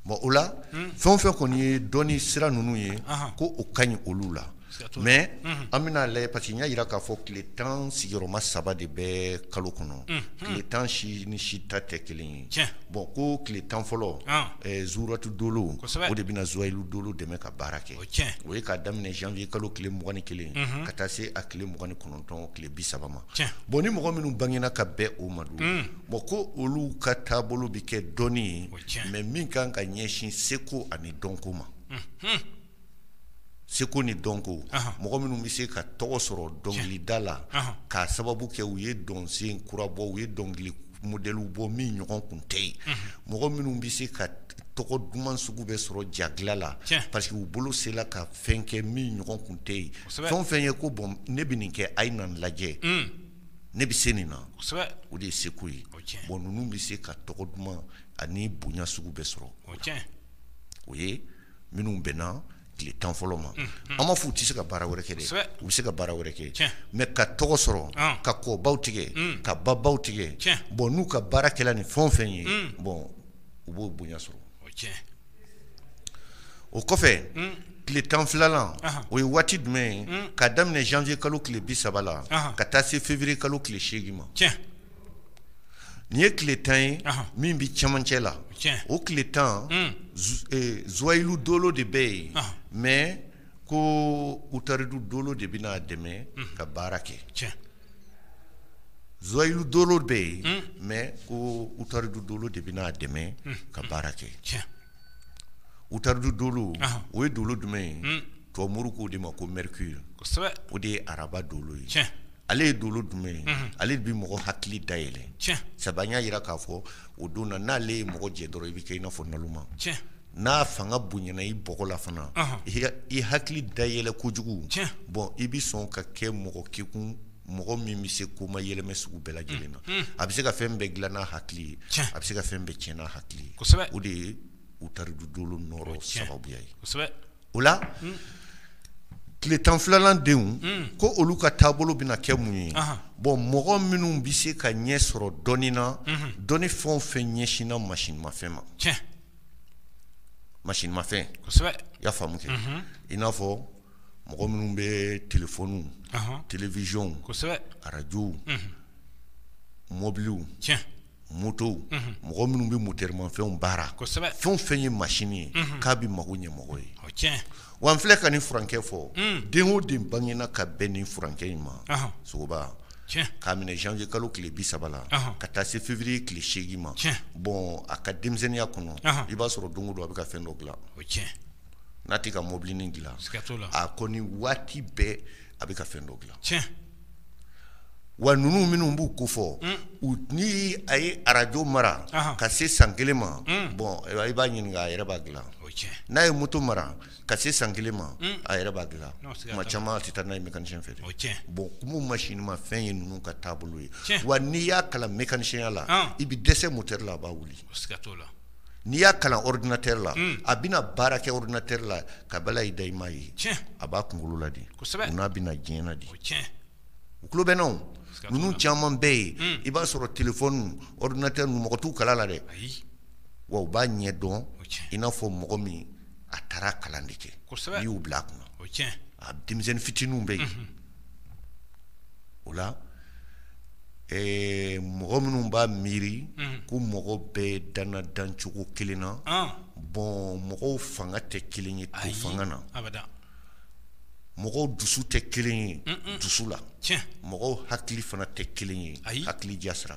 bon o la fɛn o fɛn kɔni ye dɔnni sira ninnu ye ko o ka ɲi olu la mais an bɛn'a lajɛ parce que n y'a yira k'a fɔ tile tan sigiyɔrɔma saba de bɛ kalo kɔnɔ tile tan si ni si ta tɛ kelen ye bon ko tile tan fɔlɔ zuratu dolo o de bɛna zuwayilu dolo dɛmɛ ka baara kɛ o ye k'a daminɛ janvier kalo tile mugan ni kelen ka taa se a tile mugan ni kɔnɔntɔn tile bi saba ma bon ni mɔgɔ minnu bangena ka bɛn o ma dun bon ko olu ka taabolo bɛ kɛ dɔnni ye mais min kan ka ɲɛsin seko ani dɔnko ma seko ni dɔnko mɔgɔ minnu bɛ se ka tɔgɔ sɔrɔ dɔnkilida la k'a sababu kɛ u ye dɔnsen kura bɔ u ye dɔnkili modèle bɔ min ɲɔgɔn tun tɛ yen mɔgɔ minnu bɛ se ka tɔgɔ duman sugu bɛɛ sɔrɔ ja dilan la parce que u bolo sela ka fɛn kɛ min ɲɔgɔn tun tɛ yen fɛn o fɛn ye ko bon ne bɛ nin kɛ a ye n'a lajɛ ne bɛ se nin na o de ye seko ye bon ninnu bɛ se ka tɔgɔ duman ani bonya sugu bɛɛ sɔrɔ o ye minnu bɛnna tile tan fɔlɔ ma an m'a fɔ u tɛ se ka baara wɛrɛ kɛ dɛ u bɛ se ka baara wɛrɛ kɛ mais ka tɔgɔ sɔrɔ ka kɔbaw tigɛ ka babaw tigɛ bon n'u ka baara kɛla nin fɛn o fɛn ye bon u b'o bonya sɔrɔ o kɔfɛ tile tan filanan o ye waati jumɛn ye ka daminɛ janvier kalo tile bi saba la ka taa se février kalo tile seegin ma Nin ye tile tan ye min bɛ cɛmancɛ la o tile tan zwayilu dolo de bɛ yen mɛ ko utaridu dolo de bɛ n'a dɛmɛ ka baara kɛ zwayilu dolo bɛ yen mɛ ko utaridu dolo de bɛ n'a dɛmɛ ka baara kɛ utaridu dolo o ye dolo jumɛn ye tubabu k'o de ma ko mɛrikuri o de ye araba dolo ye ale ye dolo jumɛn ye ale de bɛ mɔgɔ hakili dayɛlɛ sabu an y'a yira k'a fɔ o don na n'ale ye mɔgɔ jɛ dɔrɔn i bɛ kɛ i n'a fɔ naloma n'a fanga bonyana i bɔgɔ la fana i hakili dayɛlɛ kojugu bɔn i bɛ sɔn ka kɛ mɔgɔ kekun mɔgɔ min bɛ se ko mayɛlɛmɛ sugu bɛɛ lajɛlen na a bɛ se ka fɛn bɛɛ dilan n'a hakili ye a bɛ se ka fɛn bɛɛ tiɲɛ n'a hakili ye o de ye utaridu dolo nɔrɔ sababuya ye o la tile tan filanan denw ko olu ka taabolo bɛna kɛ mun ye bɔn mɔgɔ minnu bɛ se ka ɲɛ sɔrɔ dɔnni na dɔnni fɛn o fɛn ɲɛsinna masinimafɛn ma masinimafɛn i y'a faamu kɛ i n'a fɔ mɔgɔ minnu bɛ telefɔniw telewisiyɔn arajow mɔbiliw motow mɔgɔ minnu bɛ motɛrimafɛnw baara fɛn o fɛn ye masini ye k'a bɛ mako ɲɛ mɔgɔ ye wa an filɛ ka nin furankɛ fɔ den o den bangena ka bɛn ni furankɛ in ma sogo k'a minɛ zanwiye kalo tile bi saba la ka taa se fewuriye tile seegin ma bɔn a ka denmisɛnninya kɔnɔ i b'a sɔrɔ don o don a bɛ ka fɛn dɔ dila n'a tɛ ka mɔbilinin dila a kɔni waati bɛɛ a bɛ ka fɛn dɔ dila wa ninnu minnu b'u ko fɔ ni a ye arajo mara ka se san kelen ma bɔn i b'a ɲininka a yɛrɛ b'a dila n'a ye moto mara ka se san kelen ma a yɛrɛ b'a dila tuma caman a tɛ taa n'a ye mekanisiyɛn fɛ dɛ bɔn kuma masinimafɛn ye ninnu ka taabolo ye wa n'i y'a kalan mekanisiyɛnya la i bɛ dɛsɛ motɛri la a b'a wuli n'i y'a kalan ɔridinatɛri la a bɛna baara kɛ ɔridinatɛri la ka bala i da i m'a ye a b'a kunkolo la de u n'a bɛ na diɲɛ na de u tulo bɛna ninnu caman bɛɛ ye i b'a sɔrɔ telefɔni ɔridinatɛri ninnu mɔgɔ t'u kalan a la dɛ wa u b'a ɲɛ dɔn i n'a fɔ mɔgɔ min a taara a kalan de kɛ n'i y'u bila a kunna a denmisɛnnin fitininw bɛ yen o la mɔgɔ minnu b'a miiri ko mɔgɔ bɛɛ danna dancogo kelen na bɔn mɔgɔw fanga tɛ kelen ye to fanga na mɔgɔw dusu tɛ kelen ye dusu la mɔgɔw hakili fana tɛ kelen ye hakili ja sira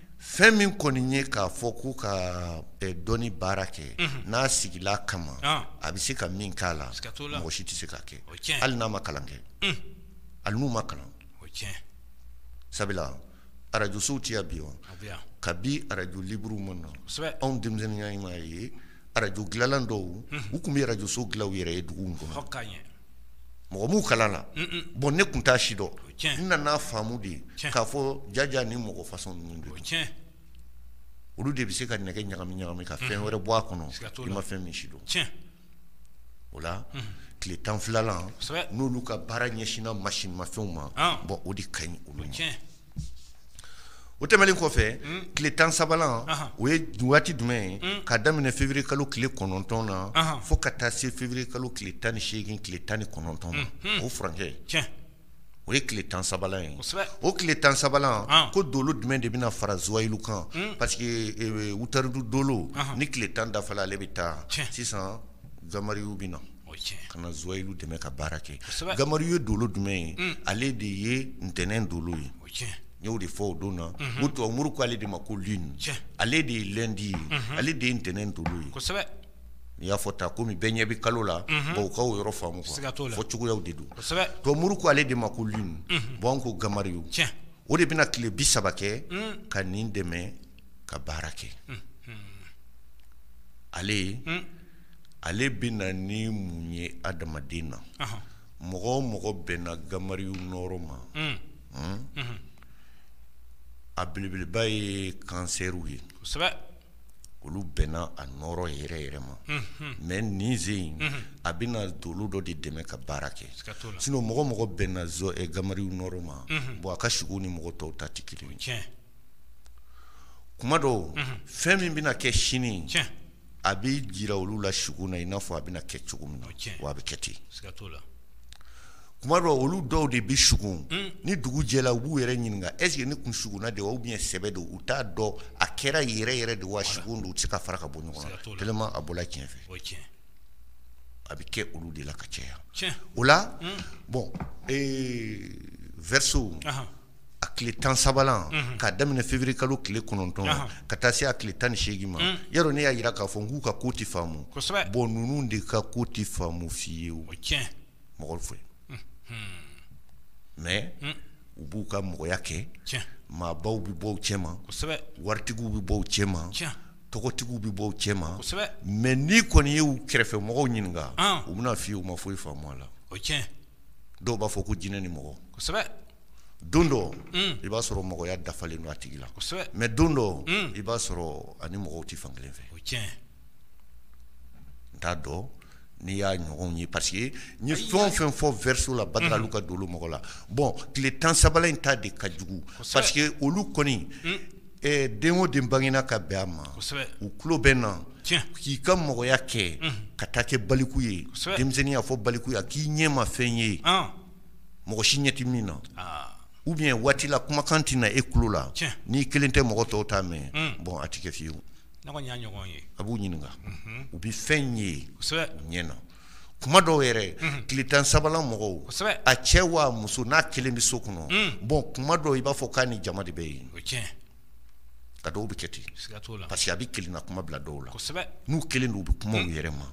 fɛn min kɔni ye k'a fɔ ko ka dɔnni baara kɛ n'a sigila kama a bɛ se ka min k'a la mɔgɔ si tɛ se k'a kɛ hali n'a ma kalan kɛ hali n'u ma kalan sabula arajosow tɛ yan bi wa kabi arajo liburu ma na anw denmisɛnninya i m'a ye arajo dilanlan dɔw u tun bɛ arajoso dilan u yɛrɛ ye duguw kɔnɔ mɔgɔ m'u kalan na bɔn ne tun t'a si dɔn n nana faamu de ye k'a fɔ jaja ni mɔgɔ fasɔn ninnu don olu de bɛ se ka nɛgɛ ɲagami ɲagami ka fɛn wɛrɛ bɔ a kɔnɔ i ma fɛn min si dɔn o la tile tan filanan n'olu ka baara ɲɛsinina masin mafɛnw ma bɔn o de ka ɲi olu o tɛmɛnlen kɔfɛ hmm. tile tan sabanan o ye waati jumɛn ye hmm. ka daminɛ fewuruye kalo tile kɔnɔntɔn na fo ka taa se fewuruye kalo tile tan ni seegin tile tan ni kɔnɔntɔn ma hmm. o furancɛ o ye tile tan sabanan ye o tile tan sabanan ko dolo jumɛn de bɛna fara zuwayilu kan parce que eh, wutaridu dolo ni tile tan dafala ale bɛ taa sisan gamariyu bɛ na ka na zuwayilu dɛmɛ ka baara kɛ gamariyu ye dolo jumɛn ye mm. ale de ye ntɛnɛn dolo ye n y'o de fɔ o don na mm-hmm. o tubabuw ko ale de ma ko luni ale de ye lɛndi ye mm-hmm. ale de ye ntɛnɛn dolo ye n'i y'a fɔ ta kɔmi bɛɛ ɲɛ bɛ kalo la mm-hmm. bɔn aw ka o yɔrɔ faamu fɔ cogoyaw de don tubabuw ko ale de ma ko luni bɔn an ko gamariyu o de bɛna tile bi saba kɛ mm. ka nin dɛmɛ ka baara kɛ ale ale bɛ na ni mun ye adamaden na mɔgɔ o mɔgɔ bɛnna gamariyu nɔɔrɔ ma a belebeleba ye kansɛriw ye olu bɛnna a nɔɔrɔ yɛrɛ yɛrɛ ma mɛ nin sen in a bɛna dolo dɔ de dɛmɛ ka baara kɛ sinɔn mɔgɔ o mɔgɔ bɛnna gamariyu nɔɔrɔ ma bon a ka sigo ni mɔgɔ tɔw ta tɛ kelen kuma dɔw fɛn min bɛna kɛ sini a bɛ jira olu la sigo na i n'a fɔ a bɛna kɛ cogo min na a bɛ kɛ ten kuma dɔw olu dɔw de bɛ sugo hmm. ni dugu jɛla u b'u yɛrɛ ɲininka ɛseke ne kun sugona de ou bien sɛbɛ don u t'a dɔn a kɛra yɛrɛ yɛrɛ de wa sugo don u tɛ se ka fara ka bɔ ɲɔgɔn na a bɔla tiɲɛ fɛ a bɛ kɛ olu de la ka caya o la hmm. bɔn vɛriso a tile tan sabanan ka daminɛ fewuruye kalo tile kɔnɔntɔn ka taa se a tile tan ni seegin ma ya ne y'a jira k'a fɔ k'u ka ko tɛ faamu bɔn ninnu de ka ko tɛ faamu fiyewu mɔgɔ fɛ mɛ u b'u ka mɔgɔya kɛ maabaw bɛ bɔ u cɛ ma waritigiw bɛ bɔ u cɛ ma tɔgɔtigiw bɛ bɔ u cɛ ma mɛ n'i kɔni y'u kɛrɛfɛ mɔgɔw ɲininka u bɛn'a fɔ i ye u ma foyi faamu a la dɔw b'a fɔ ko jinɛ ni mɔgɔ don dɔ mm. i b'a sɔrɔ mɔgɔya dafalen don a tigi la mɛ don dɔ mm. i b'a sɔrɔ ani mɔgɔw tɛ fan kelen fɛ n t'a dɔn n'i y'a ɲɔgɔnw ye parce que n ye fɛn o fɛn fɔ verseau la badalalu ka dolo mɔgɔ la bɔn tile tan sabanan in ta de ka jugu parce que olu kɔni mm. eh, den o den bangena ka bɛn a ma u tulo bɛ na k'i ka mɔgɔya kɛ ka taa kɛ baliku ye denmisɛnninya fo baliku ye k'i ɲɛ ma fɛn ye ah. mɔgɔ si ɲɛ tɛ min na ah. ou bien waati la kumakan tɛ na e tulo la n'i kelen tɛ mɔgɔ tɔw t'a mɛn hmm. bɔn a tɛ kɛ fiyewu a b'u ɲininka mhm. u bɛ fɛn ye u ɲɛ na kuma dɔw yɛrɛ mhm. tile tan sabanan mɔgɔw a cɛ wa muso n'a kelen bɛ so kɔnɔ hmm. bɔn kuma dɔw i b'a fɔ k'a ni jama de bɛ yen ka dɔw bɛ kɛ ten parce que a bɛ kelenna kuma bila dɔw la n'u kelen don u bɛ kuma u yɛrɛ ma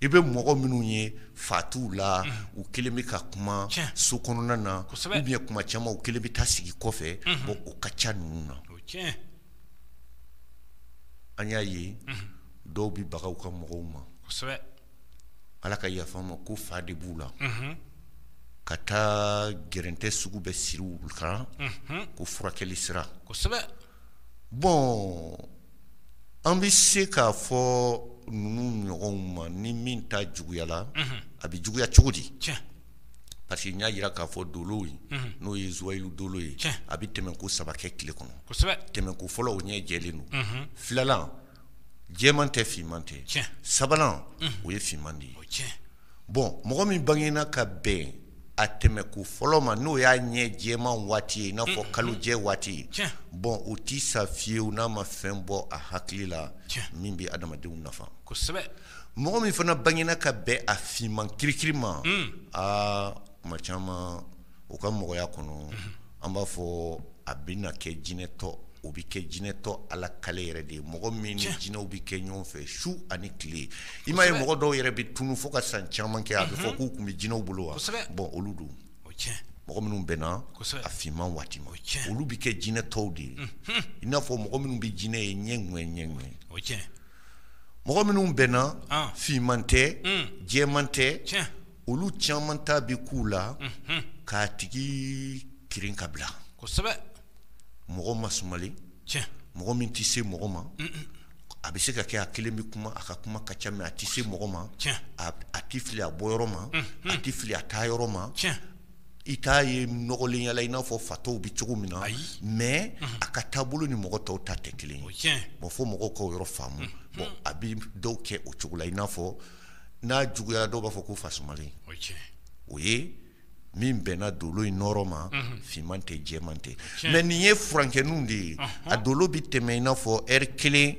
i bɛ mɔgɔ minnu ye fan dɔw la u kelen bɛ ka kuma so kɔnɔna na ou bien kuma caman u kelen bɛ taa sigi kɔfɛ bɔn o ka ca ninnu na an y'a ye dɔw bɛ baga u ka mɔgɔw ma ala ka yafa ma ko fa de b'u la ka taa gɛrɛntɛ sugu bɛ siri u kan ko furakɛli sira kosɛbɛ bɔn an bɛ se k'a fɔ ninnu ɲɔgɔnw ma ni min ta juguyala a bɛ juguya cogo di parce que n y'a yira k'a fɔ dolo ye n'o ye zuwayilu dolo ye a bɛ tɛmɛ ko saba kɛ tile kɔnɔ tɛmɛ ko fɔlɔ o ɲɛ jɛlen don filanan jɛman tɛ finman tɛ tiɲɛ sabanan o ye finman de ye o tiɲɛ bɔn mɔgɔ min bangena ka bɛn a tɛmɛ ko fɔlɔ ma n'o y'a ɲɛ jɛman waati ye i n'a fɔ kalo jɛ waati ye tiɲɛ bɔn o tɛ sa fiyewu n'a ma fɛn bɔ a hakili la Tiɲɛ. min bɛ adamadenw nafa kosɛbɛ mɔgɔ min fana bangena ka bɛn a finman kirikiri ma aa kuma caman o ka mɔgɔya kɔnɔ an b'a fɔ a bɛ na kɛ jinɛtɔ o bɛ kɛ jinɛtɔ ala kale yɛrɛ de ye mɔgɔ min ni jinɛw bɛ kɛ ɲɔgɔn fɛ su ani tile i m'a ye mɔgɔ dɔw yɛrɛ bɛ tunu fo ka san caman kɛ a bɛ fɔ k'u tun bɛ jinɛw bolo wa bɔn olu don mɔgɔ minnu bɛnna a finman waati ma olu bɛ kɛ jinɛtɔw de ye i n'a fɔ mɔgɔ minnu bɛ jinɛ ye ɲɛ ni ɲɛ mɔgɔ minnu bɛnna finman tɛ jɛman tɛ olu caman ta bɛ k'u la k'a tigi kirin ka bila kosɛbɛ mɔgɔ masumalen mɔgɔ min tɛ se mɔgɔ ma a bɛ se ka kɛ a kelen bɛ kuma a ka kuma ka ca mɛ a tɛ se mɔgɔ ma a tɛ fili a bɔ yɔrɔ ma a tɛ fili a taa yɔrɔ ma i t'a ye nɔgɔlen yala i n'a fɔ fatɔw bɛ cogo min na mɛ a ka taabolo ni mɔgɔ tɔw ta tɛ kelen ye bɔn fo mɔgɔw k'o yɔrɔ faamu bɔn a bɛ dɔw kɛ o cogo la i n'a fɔ n'a juguyara dɔw b'a fɔ ko fasumalen o ye tiɲɛ ye o ye min bɛnna dolo in nɔrɔ ma finman tɛ jɛman tɛ Tiɲɛ. mɛ nin ye furankɛninw de ye a dolo bɛ tɛmɛ i n'a fɔ ɛri kelen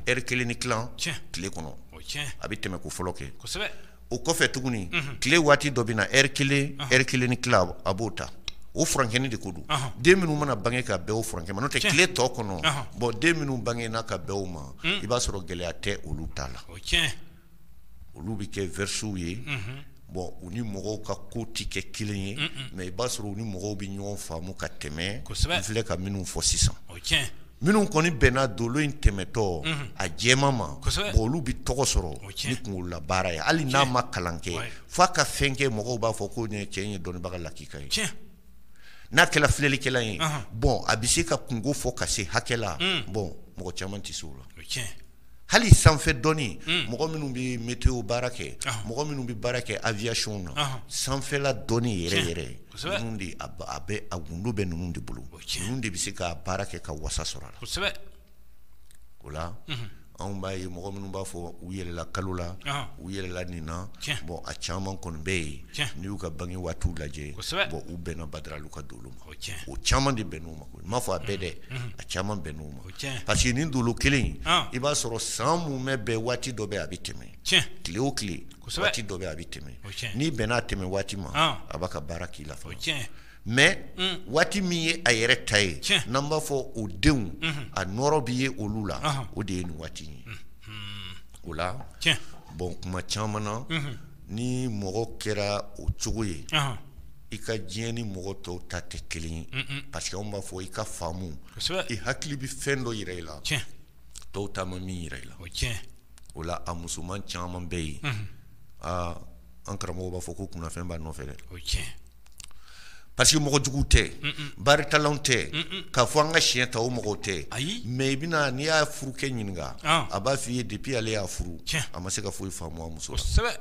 ɛri kelen ni tilan Tiɲɛ. tile kɔnɔ o ye tiɲɛ ye a bɛ tɛmɛ ko fɔlɔ kɛ kosɛbɛ o kɔfɛ tuguni tile waati dɔ bɛ na ɛri kelen ɛri kelen ni tilan a b'o ta o furankɛnin de ko don Ɔhɔn. den minnu mana bange ka bɛn o furankɛ ma n'o tɛ Tiɲɛ. tile tɔ kɔnɔ Ɔhɔn. bɔn den minnu bangena ka bɛn o ma i b'a sɔrɔ gɛlɛya tɛ olu ta la o tiɲɛ olu bɛ kɛ verseaux ye bɔn u ni mɔgɔw ka ko tɛ kɛ kelen ye mɛ i b'a sɔrɔ u ni mɔgɔw bɛ ɲɔgɔn faamu ka tɛmɛ kosɛbɛ n filɛ ka minnu fɔ sisan o tiɲɛ minnu kɔni bɛnna dolo in tɛmɛtɔ a jɛman ma olu bɛ tɔgɔ sɔrɔ ni kunkolo baara ye hali n'a ma kalan kɛ f'a ka fɛn kɛ mɔgɔw b'a fɔ ko nin cɛ ye dɔnnibaga lakika ye tiɲɛ n'a kɛra filɛlikɛla ye bɔn a bɛ se ka kunko fɔ ka se hakɛ la bɔn mɔgɔ caman tɛ se o la hali sanfɛ dɔnni mɔgɔ minnu bɛ météo baara kɛ mɔgɔ minnu bɛ baara kɛ aviation na sanfɛla dɔnni yɛrɛ yɛrɛ de a bɛ a gundo bɛ ninnu de bolo ninnu de bɛ se ka baara kɛ ka wasa sɔrɔ a la kosɛbɛ o la anw b'a ye mɔgɔ minnu b'a fɔ u yɛlɛla kalo la u yɛlɛla nin na bɔn a caman kɔni bɛ yen n'i y'u ka bange waatiw lajɛ u bɛnna Badaralu ka dolo ma o caman de bɛnn'o ma n m'a fɔ a bɛɛ dɛ a caman bɛnn'o ma parce que nin dolo kelen in i b'a sɔrɔ san mumɛ bɛɛ waati dɔ bɛ a bɛ tɛmɛ tile o tile waati dɔ bɛ a bɛ tɛmɛ n'i bɛnn'a tɛmɛ waati ma a b'a ka baara k'i la mɛ waati min ye a yɛrɛ ta ye n'an b'a fɔ o denw a nɔɔrɔ bɛ ye olu la o de ye nin waati ye o la bɔn kuma caman na ni mɔgɔ kɛra o cogo ye i ka diɲɛ ni mɔgɔ tɔw ta tɛ kelen ye parce que anw b'a fɔ i ka faamu i hakili bɛ fɛn dɔ yira i la tɔw ta ma min yira i la o la a musoman caman bɛ yen aa an karamɔgɔ b'a fɔ ko kunnafɛn b'a nɔfɛ dɛ parce que mɔgɔ jugu tɛ baritalaw tɛ k'a fɔ an ka siɲɛ ta o mɔgɔw tɛ mɛ i bɛna n'i y'a furukɛ ɲininka a b'a fɔ i ye depuis ale y'a furu a ma se ka foyi faamu a muso la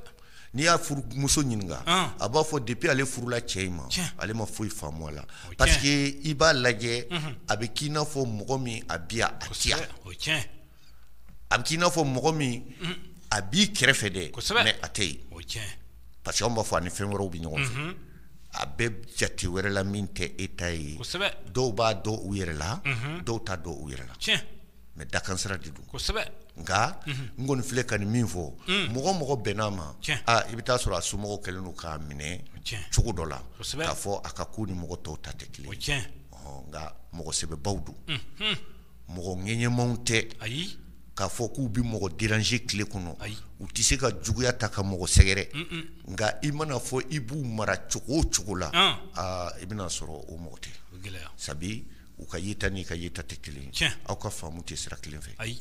n'i y'a furumuso ɲininka a b'a fɔ depuis ale furula cɛ in ma ale ma foyi faamu a la parce que i b'a lajɛ a bɛ k'i n'a fɔ mɔgɔ min a bɛ yan a tɛ yan a bɛ k'i n'a fɔ mɔgɔ min a b'i kɛrɛfɛ dɛ mɛ a tɛ yen parce que anw b'a fɔ a ni fɛn wɛrɛw bɛ ɲɔgɔn fɛ a bɛ jate wɛrɛ la min tɛ e ta ye dɔw b'a dɔn u yɛrɛ la dɔw t'a dɔn u yɛrɛ la mɛ dakansira de don nka n kɔni filɛ ka nin min fɔ mɔgɔ o mɔgɔ bɛnn'a ma i bɛ t'a sɔrɔ a somɔgɔw kɛlen don k'a minɛ cogo dɔ la k'a fɔ a ka ko ni mɔgɔ tɔw ta tɛ kelen ye nka mɔgɔ sɛbɛbaw don mɔgɔ ŋɛɲɛmanw tɛ ayi k'a fɔ k'u bɛ mɔgɔ déranger tile kɔnɔ ayi u tɛ se ka juguya ta ka mɔgɔ sɛgɛrɛ nka i mana fɔ i b'u mara cogo o cogo la aa i bɛna sɔrɔ o mɔgɔ tɛ sabi u ka yeta n'i ka yeta tɛ kelen ye aw ka faamu tɛ sira kelen fɛ ayi.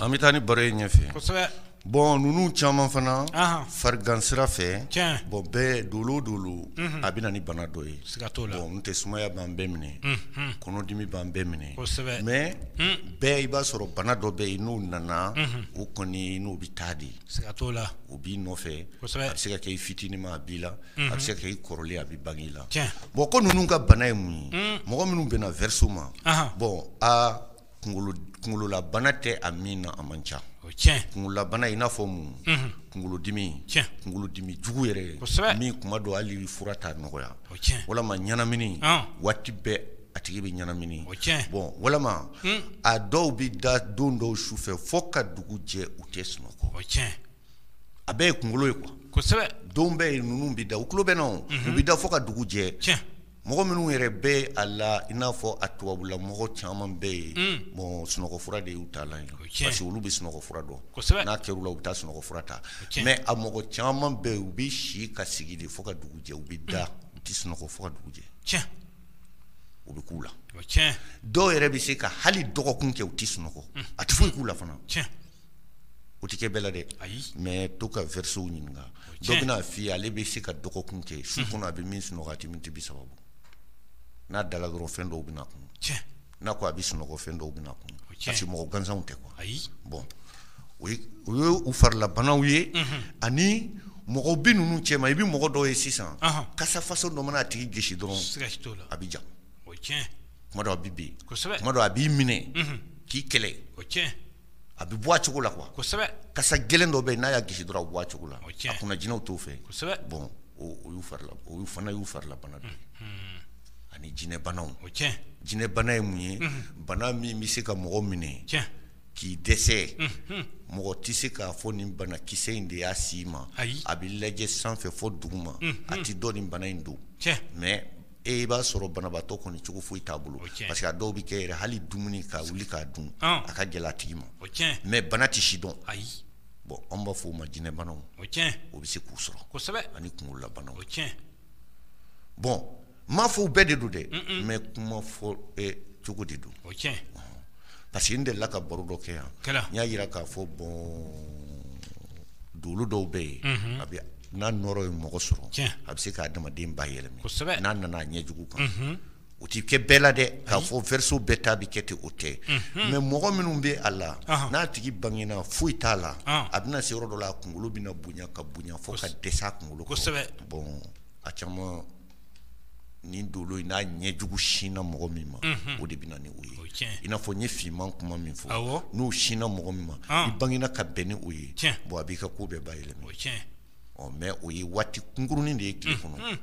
an bɛ taa ni baro ye ɲɛfɛ bɔn ninnu caman fana farigan sira fɛ bɔn bɛɛ dolo o dolo a bɛ na ni bana dɔ ye bɔn n tɛ sumaya b'an bɛɛ minɛ kɔnɔdimi b'an bɛɛ minɛ mais bɛɛ i b'a sɔrɔ bana dɔ bɛ yen i n'o nana o kɔni i n'o bɛ taa de ye Siga t'o la o b'i nɔfɛ kosɛbɛ a bɛ se ka kɛ i fitinin ma a b'i la unhun a bɛ se ka kɛ i kɔrɔlen a bɛ bange i la tiɲɛ bon ko ninnu ka bana ye mun ye uun mɔgɔ minnu bɛ na verseau ma anhan bon aa kunkolo d kunkololabana tɛ a min na a man ca o ye tiɲɛ ye kunkololabana i n'a fɔ mun unhun kunkolodimi tiɲɛ kunkolodimi jugu yɛrɛ kosɛbɛ min kuma dɔ hali fura t'a nɔgɔya walima ɲɛnamini waati bɛɛ a tigi bɛ ɲɛnamini bɔn walima a dɔw bɛ da don dɔw su fɛ fo ka dugu jɛ u tɛ sunɔgɔ a bɛɛ ye kunkolo ye kosɛbɛ don bɛ yen ninnu bɛ da u tulo bɛ u bɛ da fo ka dugu jɛ mɔgɔ minnu yɛrɛ bɛ a la i n'a fɔ a tubabula mɔgɔ caman bɛ yen bɔn sunɔgɔfura de y'u ta la parce que olu bɛ sunɔgɔfura dɔn n'a kɛr'u la u bɛ taa sunɔgɔfura ta mais a mɔgɔ caman bɛ yen u bɛ si ka sigi de fo ka dugu jɛ u bɛ da u tɛ sunɔgɔ fo ka dugu jɛ tiɲɛ o bɛ k'u la tiɲɛ dɔw yɛrɛ bɛ se ka hali dɔgɔkun kɛ u tɛ sunɔgɔ a tɛ foyi k'u la fana tiɲɛ o tɛ kɛ bɛɛ la dɛ mais to ka verseauw ɲininka dɔ bɛna f'i ye ale bɛ se ka dɔgɔkun kɛ su kɔnɔ a bɛ min sunɔgɔ a tɛ miniti bi saba bɔ n'a dala dɔrɔn fɛn dɔw bɛna kun tiɲɛ n'a ko a bɛ sunɔgɔ fɛn dɔw bɛna kun parce que mɔgɔ gansanw tɛ quoi ayi bɔn o ye u farilabanaw ye ani mɔgɔ bɛ ninnu cɛ ma i bɛ mɔgɔ dɔw ye sisan kasa façon dɔ mana a tigi gosi dɔrɔn a bɛ ja kuma dɔw a bɛ bin kuma dɔ a b'i minɛ k'i kɛlɛ a bɛ bɔ a cogo la quoi kosɛbɛ kasa gɛlɛn dɔ bɛ yen n'a y'a gosi dɔrɔn a bɛ bɔ a cogo la a kunna jinɛw t'o fɛ kosɛbɛ bon o y'u farila o y'u fana y'u farilabana dɔ ye ani jinɛbanaw o tiɲɛ jinɛbana ye mun ye bana min bɛ se ka mɔgɔ minɛ tiɲɛ k'i dɛsɛ mɔgɔ tɛ se k'a fɔ nin banakisɛ in de y'a s'i ma a bɛ lajɛ sanfɛ fo duguma a tɛ dɔn nin bana in don tiɲɛ mais i b'a sɔrɔ banabaatɔ kɔni cogo foyi t'a bolo parce que a dɔw bɛ kɛ yɛrɛ hali dumuni ka wuli k'a dun a ka gɛlɛn a tigi ma mais bana tɛ si dɔn ayi bɔn an b'a fɔ o ma jinɛbanaw o bɛ se k'u sɔrɔ ani kunlabanaw bɔn n m'a fɔ bɛɛ de don dɛ mais kuma fɔ cogo de don parce que n delila ka baro dɔ kɛ yan n y'a yira k'a fɔ bɔn dolo dɔw bɛ yen a bɛ n'a nɔɔrɔ ye mɔgɔ sɔrɔ a bɛ se k'a adamaden bayɛlɛma kosɛbɛ n'a nana a ɲɛjugu kan o tɛ kɛ bɛɛ la dɛ k'a fɔ verseau bɛɛ ta bɛ kɛ ten o tɛ mɛ mɔgɔ minnu bɛ a la n'a tigi bangena foyi t'a la a bɛna se yɔrɔ dɔ la a kunkolo bɛna bonya ka bonya fo ka dɛsɛ a kunkolo kɔrɔ bɔn a caman ni dolo in n'a ɲɛjugu sinna mɔgɔ min ma o de bɛ na ni o ye i n'a fɔ n ye finman kuma min fɔ n'o sinna mɔgɔ min ma i bangena ka bɛn ni o ye bon a b'i ka ko bɛɛ bayɛlɛma mɛ o ye waati kunkurunin de ye tile kɔnɔ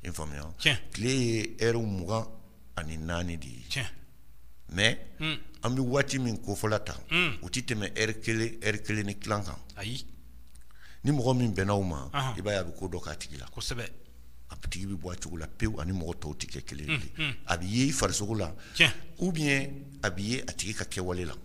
i faamuya tile ye ɛri mugan ani naani de ye tiɲɛ mais hmm. an bɛ waati min kofɔla tan hmm. o ti tɛmɛ ɛri kelen ɛri kelen ni tilan kan ayi ni mɔgɔ min bɛnna o ma i b'a ye a bɛ ko dɔ k'a tigi la kosɛbɛ a tigi bɛ bɔ a cogo la pewu ani mɔgɔ tɔw tɛ kɛ kelen ye hmm, a bɛ ye i farisogo la ou bien a bɛ ye a tigi ka kɛwale la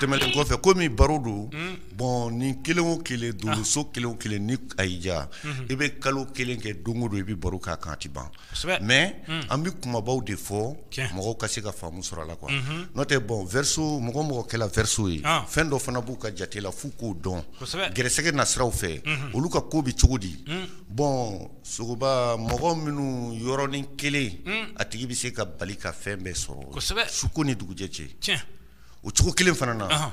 tɛmɛnen kɔfɛ komi baro don bɔn ni kelen o kelen dolo so kelen o kelen ni a y'i diya i bɛ kalo kelen kɛ don o don i bɛ baro k'a kan a tɛ ban mɛ an bɛ kumabaw de fɔ mɔgɔw ka se ka faamu sɔrɔ a la quoi n'o tɛ bɔn verseau mɔgɔ o mɔgɔ kɛla verseau ye fɛn dɔ fana b'u ka jate la f'u k'o dɔn gɛrɛsɛgɛ nasiraw fɛ olu ka ko bɛ cogo di bɔn sogoba mɔgɔ minnu yɔrɔnin kelen hmm. a tigi bɛ se ka bali ka fɛn bɛɛ sɔrɔ kosɛbɛ suko ni dugujɛ cɛ tiɲɛ o cogo kelen fana na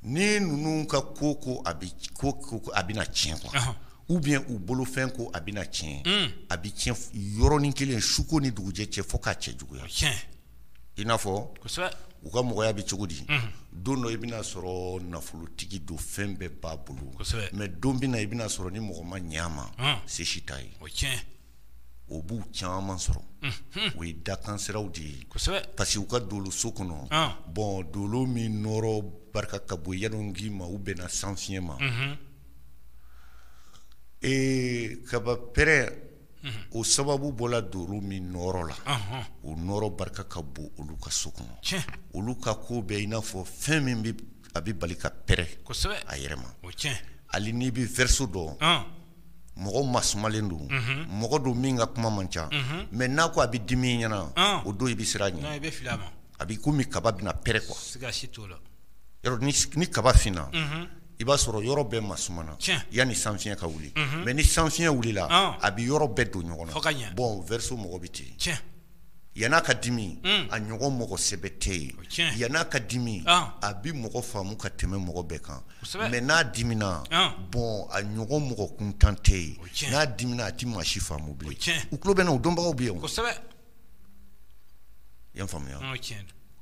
ni ninnu ka ko ko a bɛ ko ko a bɛna tiɲɛ quoi ou bien u bolofɛn ko a bɛna tiɲɛ hmm. a bɛ tiɲɛ yɔrɔnin kelen suko ni dugujɛ cɛ fo k'a cɛjuguya tiɲɛ i n'a fɔ u ka mɔgɔya bɛ cogo di don dɔ i bɛna sɔrɔ nafolotigi don fɛn bɛɛ b'a bolo mɛ don bɛna i bɛna sɔrɔ ni mɔgɔ ma ɲɛ a ma se si t'a ye o b'u caman sɔrɔ o ye dakansiraw de ye parce que u ka dolo so kɔnɔ bɔn dolo min nɔɔrɔ barika ka bon yɛlɛ k'i ma u bɛnna sanfiɲɛ ma ee kaba pɛrɛn o sababu bɔla dolo min nɔɔrɔ la o nɔɔrɔ barika ka bon olu ka so kɔnɔ olu ka ko bɛ i n'a fɔ fɛn min bɛ a bɛ bali ka pɛrɛn a yɛrɛ ma hali n'i bɛ verseau dɔn mɔgɔ masumalen don mɔgɔ don min ka kuma man ca mɛ n'a ko a bɛ dimi ɲɛna o don i bɛ siran a ɲɛ a b'i komi kaba bɛna pɛrɛn quoi ni kaba finna i b'a sɔrɔ yɔrɔ bɛɛ masumana yanni sanfiɲɛ ka wuli mɛ ni sanfiɲɛ wulila a bɛ yɔrɔ bɛɛ don ɲɔgɔn na bɔn verseau mɔgɔ bɛ ten yann'a ka dimi a ɲɔgɔn mɔgɔ sɛbɛ tɛ yen yann'a ka dimi a bɛ mɔgɔ faamu ka tɛmɛ mɔgɔ bɛɛ kan mɛ n'a dimina bɔn a ɲɔgɔn mɔgɔ kuntan tɛ yen n'a dimina a tɛ maa si faamu bilen u tulo bɛ n na u dɔnbagaw bɛ yen I y'a faamuya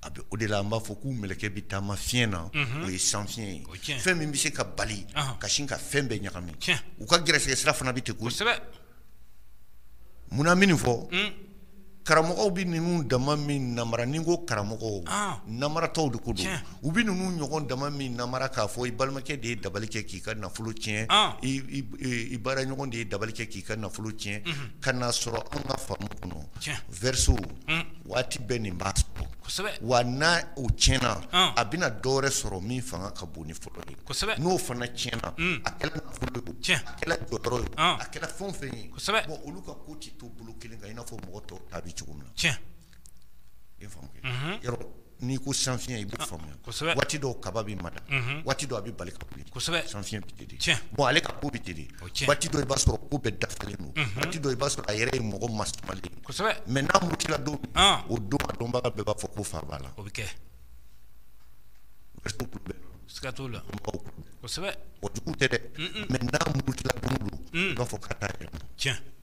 a bɛ o de la an b'a fɔ k'u mɛlɛkɛ bɛ taama fiɲɛ na o ye san fiɲɛ ye fɛn min bɛ se ka bali ka sin ka fɛn bɛɛ ɲagami u ka gɛrɛsɛgɛ sira fana bɛ ten koyi kosɛbɛ munna min fɔ karamɔgɔw bɛ ninnu dama min namara ni ko karamɔgɔ namaratɔw de ko don u bɛ ninnu ɲɔgɔn dama min namara k'a fɔ i balimakɛ de ye dabali kɛ k'i ka nafolo tiɲɛ i baara ɲɔgɔn de ye dabali kɛ k'i ka nafolo tiɲɛ ka n'a sɔrɔ an ka faamu kɔnɔ verseau waati bɛɛ nin b'a sɔrɔ wa n'a o tiɲɛna a bɛna dɔwɛrɛ sɔrɔ min fanga ka bon ni fɔlɔ ye kosɛbɛ n'o fana tiɲɛna a kɛla nafolo ye a kɛla jɔyɔrɔ ye a kɛla fɛn o fɛn ye bɔn olu ka ko tɛ to bolo kelen kan i n'a fɔ mɔgɔ tɔw ta bɛ cogo min na N'i ko san fiɲɛ i b'o faamuya waati dɔw kaba bɛ mada waati dɔ a bɛ bali ka wuli san fiɲɛ bɛ teli bɔn ale ka ko bɛ teli waati dɔ i b'a sɔrɔ ko bɛɛ dafalen don waati dɔ i b'a sɔrɔ a yɛrɛ ye mɔgɔ masumalen mɛ n'a murutila don o don a dɔnbaga bɛɛ b'a fɔ ko fa b'a la o bɛ kɛ siga t'o la o jugu tɛ dɛ mɛ n'a murutila don o don i b'a fɔ ka taa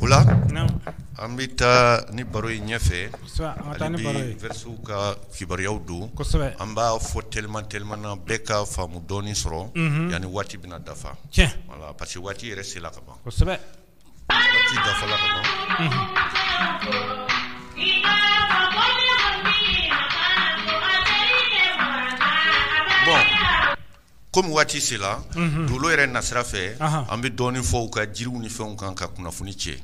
O la an bɛ taa ni baro ye ɲɛfɛ hali bi verseau ka kibaruyaw don an b'a fɔ teliman teliman na bɛɛ ka faamu dɔɔni sɔrɔ yanni waati bɛna dafa voilà parce que waati yɛrɛ sela ka ban kosɛbɛ dafala kɔmi waati sela mhm. dolo yɛrɛ nasira fɛ an bɛ dɔɔnin fɔ u ka jiriw ni fɛnw kan ka kunnafoni cɛ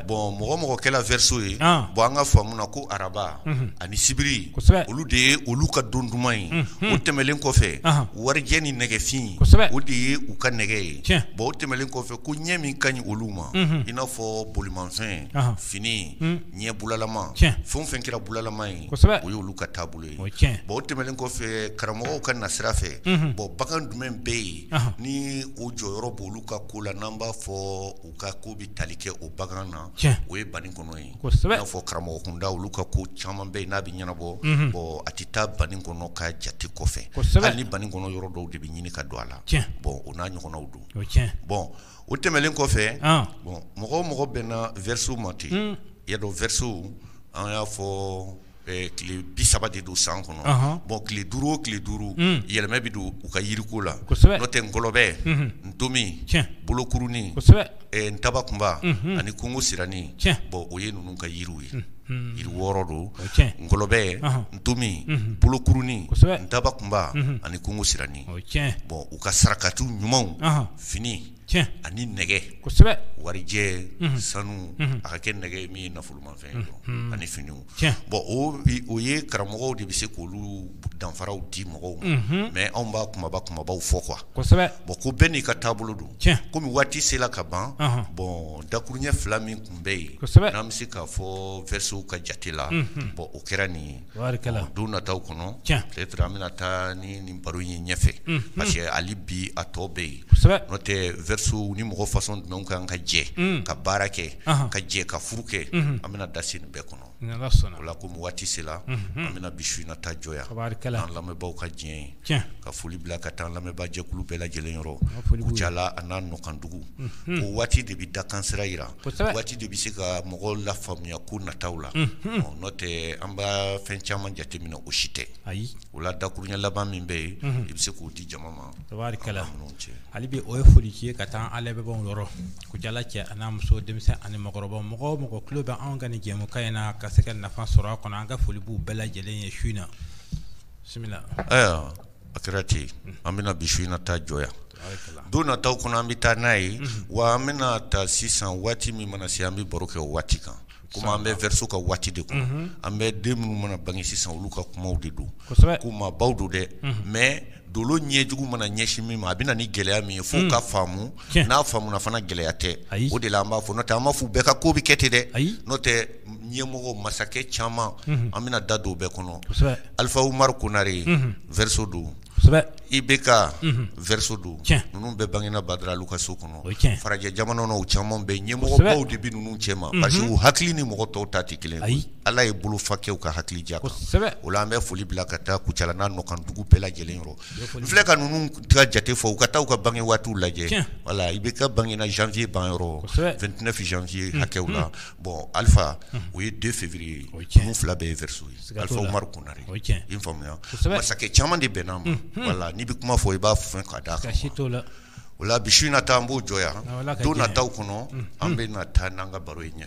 bɔn mɔgɔ o mɔgɔ kɛla vɛriso ye ah. bɔn an ka faamu na ko araba mhm. ani sibiri olu de ye olu ka don duman ye mhm. o tɛmɛlen kɔfɛ warijɛ ni nɛgɛfin o de ye u ka nɛgɛ ye bɔn o tɛmɛlen kɔfɛ ko ɲɛ min ka ɲi olu ma i n'a fɔ bolimanfɛn fini ɲɛ bulalama fɛn o fɛn kɛra bulalama ye o ye olu ka taabolo o ye tiɲɛ ye, bon o tɛmɛnen kɔfɛ karamɔgɔw ka nasira fɛ, unhun, bon bagan jumɛn bɛ yen, ɔnhɔn, ni o jɔyɔrɔ b'olu ka ko la n'an b'a fɔ u ka ko bɛ tali kɛ o bagan na, tiɲɛ, o ye banikɔnɔ ye, kosɛbɛ, i n'a fɔ karamɔgɔ kunda olu ka ko caman bɛ yen n'a bɛ ɲɛnabɔ, unhun, bon a tɛ taa banikɔnɔ ka jate kɔfɛ, kosɛbɛ, hali ni banikɔnɔ yɔrɔ dɔw de bɛ ɲini ka don a la, tiɲɛ, bon o n'a ɲɔgɔnnaw don, o ye tiɲɛ ye, bon o tɛmɛnen kɔfɛ, ɔn, bon mɔgɔ o mɔgɔ bɛnna verseau ma ten, un, i y'a dɔn verseau an y'a fɔ tile bi saba de don san kɔnɔ bɔn tile duuru o tile duuru yɛlɛma bɛ don u ka yiriko la n'o tɛ ngɔlɔbɛ ntomi bolokuruni ntabakunba ani kungo siranin bɔn o ye ninnu ka yiriw ye yiri wɔɔrɔ don ngɔlɔbɛ ntomi bolokuruni ntabakunba ani kungo siranin bɔn u ka sarakati ɲumanw fini tiɲɛ, ani nɛgɛ, kosɛbɛ, warijɛ, unhun, sanu, unhun, a ka kɛ nɛgɛ min ye nafolomafɛn ye, unhun, ani finiw, tiɲɛ, bon o ye karamɔgɔw de bɛ se k'olu danfaraw di mɔgɔw ma, unhun, mais anw b'a kunbaba kunbabaw fɔ quoi kosɛbɛ, bon ko bɛɛ n'i ka taabolo don, tiɲɛ, komi waati sela ka ban, ɔnhɔn, bon dakurunɲɛ fila min tun bɛ yen, kosɛbɛ, n'an bɛ se k'a fɔ verseaux ka jate la, unhun, bon o kɛra nin ye don nataw kɔnɔ peut-être an bɛna taa ni nin baro ye ɲɛfɛ parce que hali bi a tɔ bɛ yen n'o tɛ verseau ni mɔgɔ fasɔn jumɛn kan ka jɛ ka baara kɛ ka jɛ ka furu kɛ an bɛna da se nin bɛɛ kɔnɔ o la komi waati sela an bɛna bi su in na ta jɔ yan an lamɛnbaaw ka diɲɛ ye ka foli bila ka taa lamɛnbaajɛkulu bɛɛ lajɛlen yɔrɔ kucala an'a nɔkandugu ko waati de bɛ dakansira jira waati de bɛ se ka mɔgɔw lafaamuya ko nataw la n'o tɛ an bɛ fɛn caman jateminɛ o si tɛ ayi o la dakurunɲɛ laban min bɛ yen i bɛ se k'o di jama ma cɛ hali bi o ye foli ye ka taa an lamɛnbaaw yɔrɔ kucala cɛ an'a muso denmisɛnnin ani mɔgɔkɔrɔba mɔgɔ o mɔgɔ tulo bɛ anw ka nin jɛmukan in na ka se ka nafa sɔrɔ a kɔnɔ an ka foli b'u bɛɛ lajɛlen ye su in na ayiwa a kɛra ten an bɛna bi su in na ta jɔ yan don nata kɔnɔ an bɛ taa n'a ye wa an bɛna taa sisan waati min mana se an bɛ baro kɛ o waati kan komi an bɛ verseau ka waati de kɔnɔ an bɛ den minnu mana bange sisan olu ka kumaw de don ko maabaw don dɛ mais dolo ɲɛjugu mana ɲɛsin min ma a bɛ na ni gɛlɛya min ye fo ka faamu n'a faamuna fana gɛlɛya tɛ o de la an b'a fɔ n'o tɛ an m'a fɔ bɛɛ ka ko bɛ kɛ ten dɛ n'o tɛ ɲɛmɔgɔ masakɛ caman an bɛna da don bɛɛ kɔnɔ alifa umaru konare verseau don IBK verseau don ninnu bɛɛ bangena badara alu ka so kɔnɔ farajɛ jamana caman bɛ ɲɛmɔgɔbaw de bɛ ninnu cɛ ma parce que u hakili ni mɔgɔ tɔw ta tɛ kelen ye ala ye bolo fakɛw ka hakili diya o la an bɛ foli bila ka taa kucala n'a nɔkandugu bɛɛ lajɛlen yɔrɔ n filɛ ka ninnu jate fɔ u ka taa u ka bange waati lajɛ voilà IBK bangena janvier ban yɔrɔ vingt-neuf janvier hakɛw la bon alifa o ye deux février ninnu fila bɛɛ ye verseau ye alifa umaru konare i faamuya masakɛ caman de bɛnn'a ma voilà n'i bɛ kuma fɔ i b'a fɔ ka d'a kan o la bi su in na ta an b'o jɔ yan don nataw kɔnɔ an bɛ na taa n'an ka baro ye ɲɛ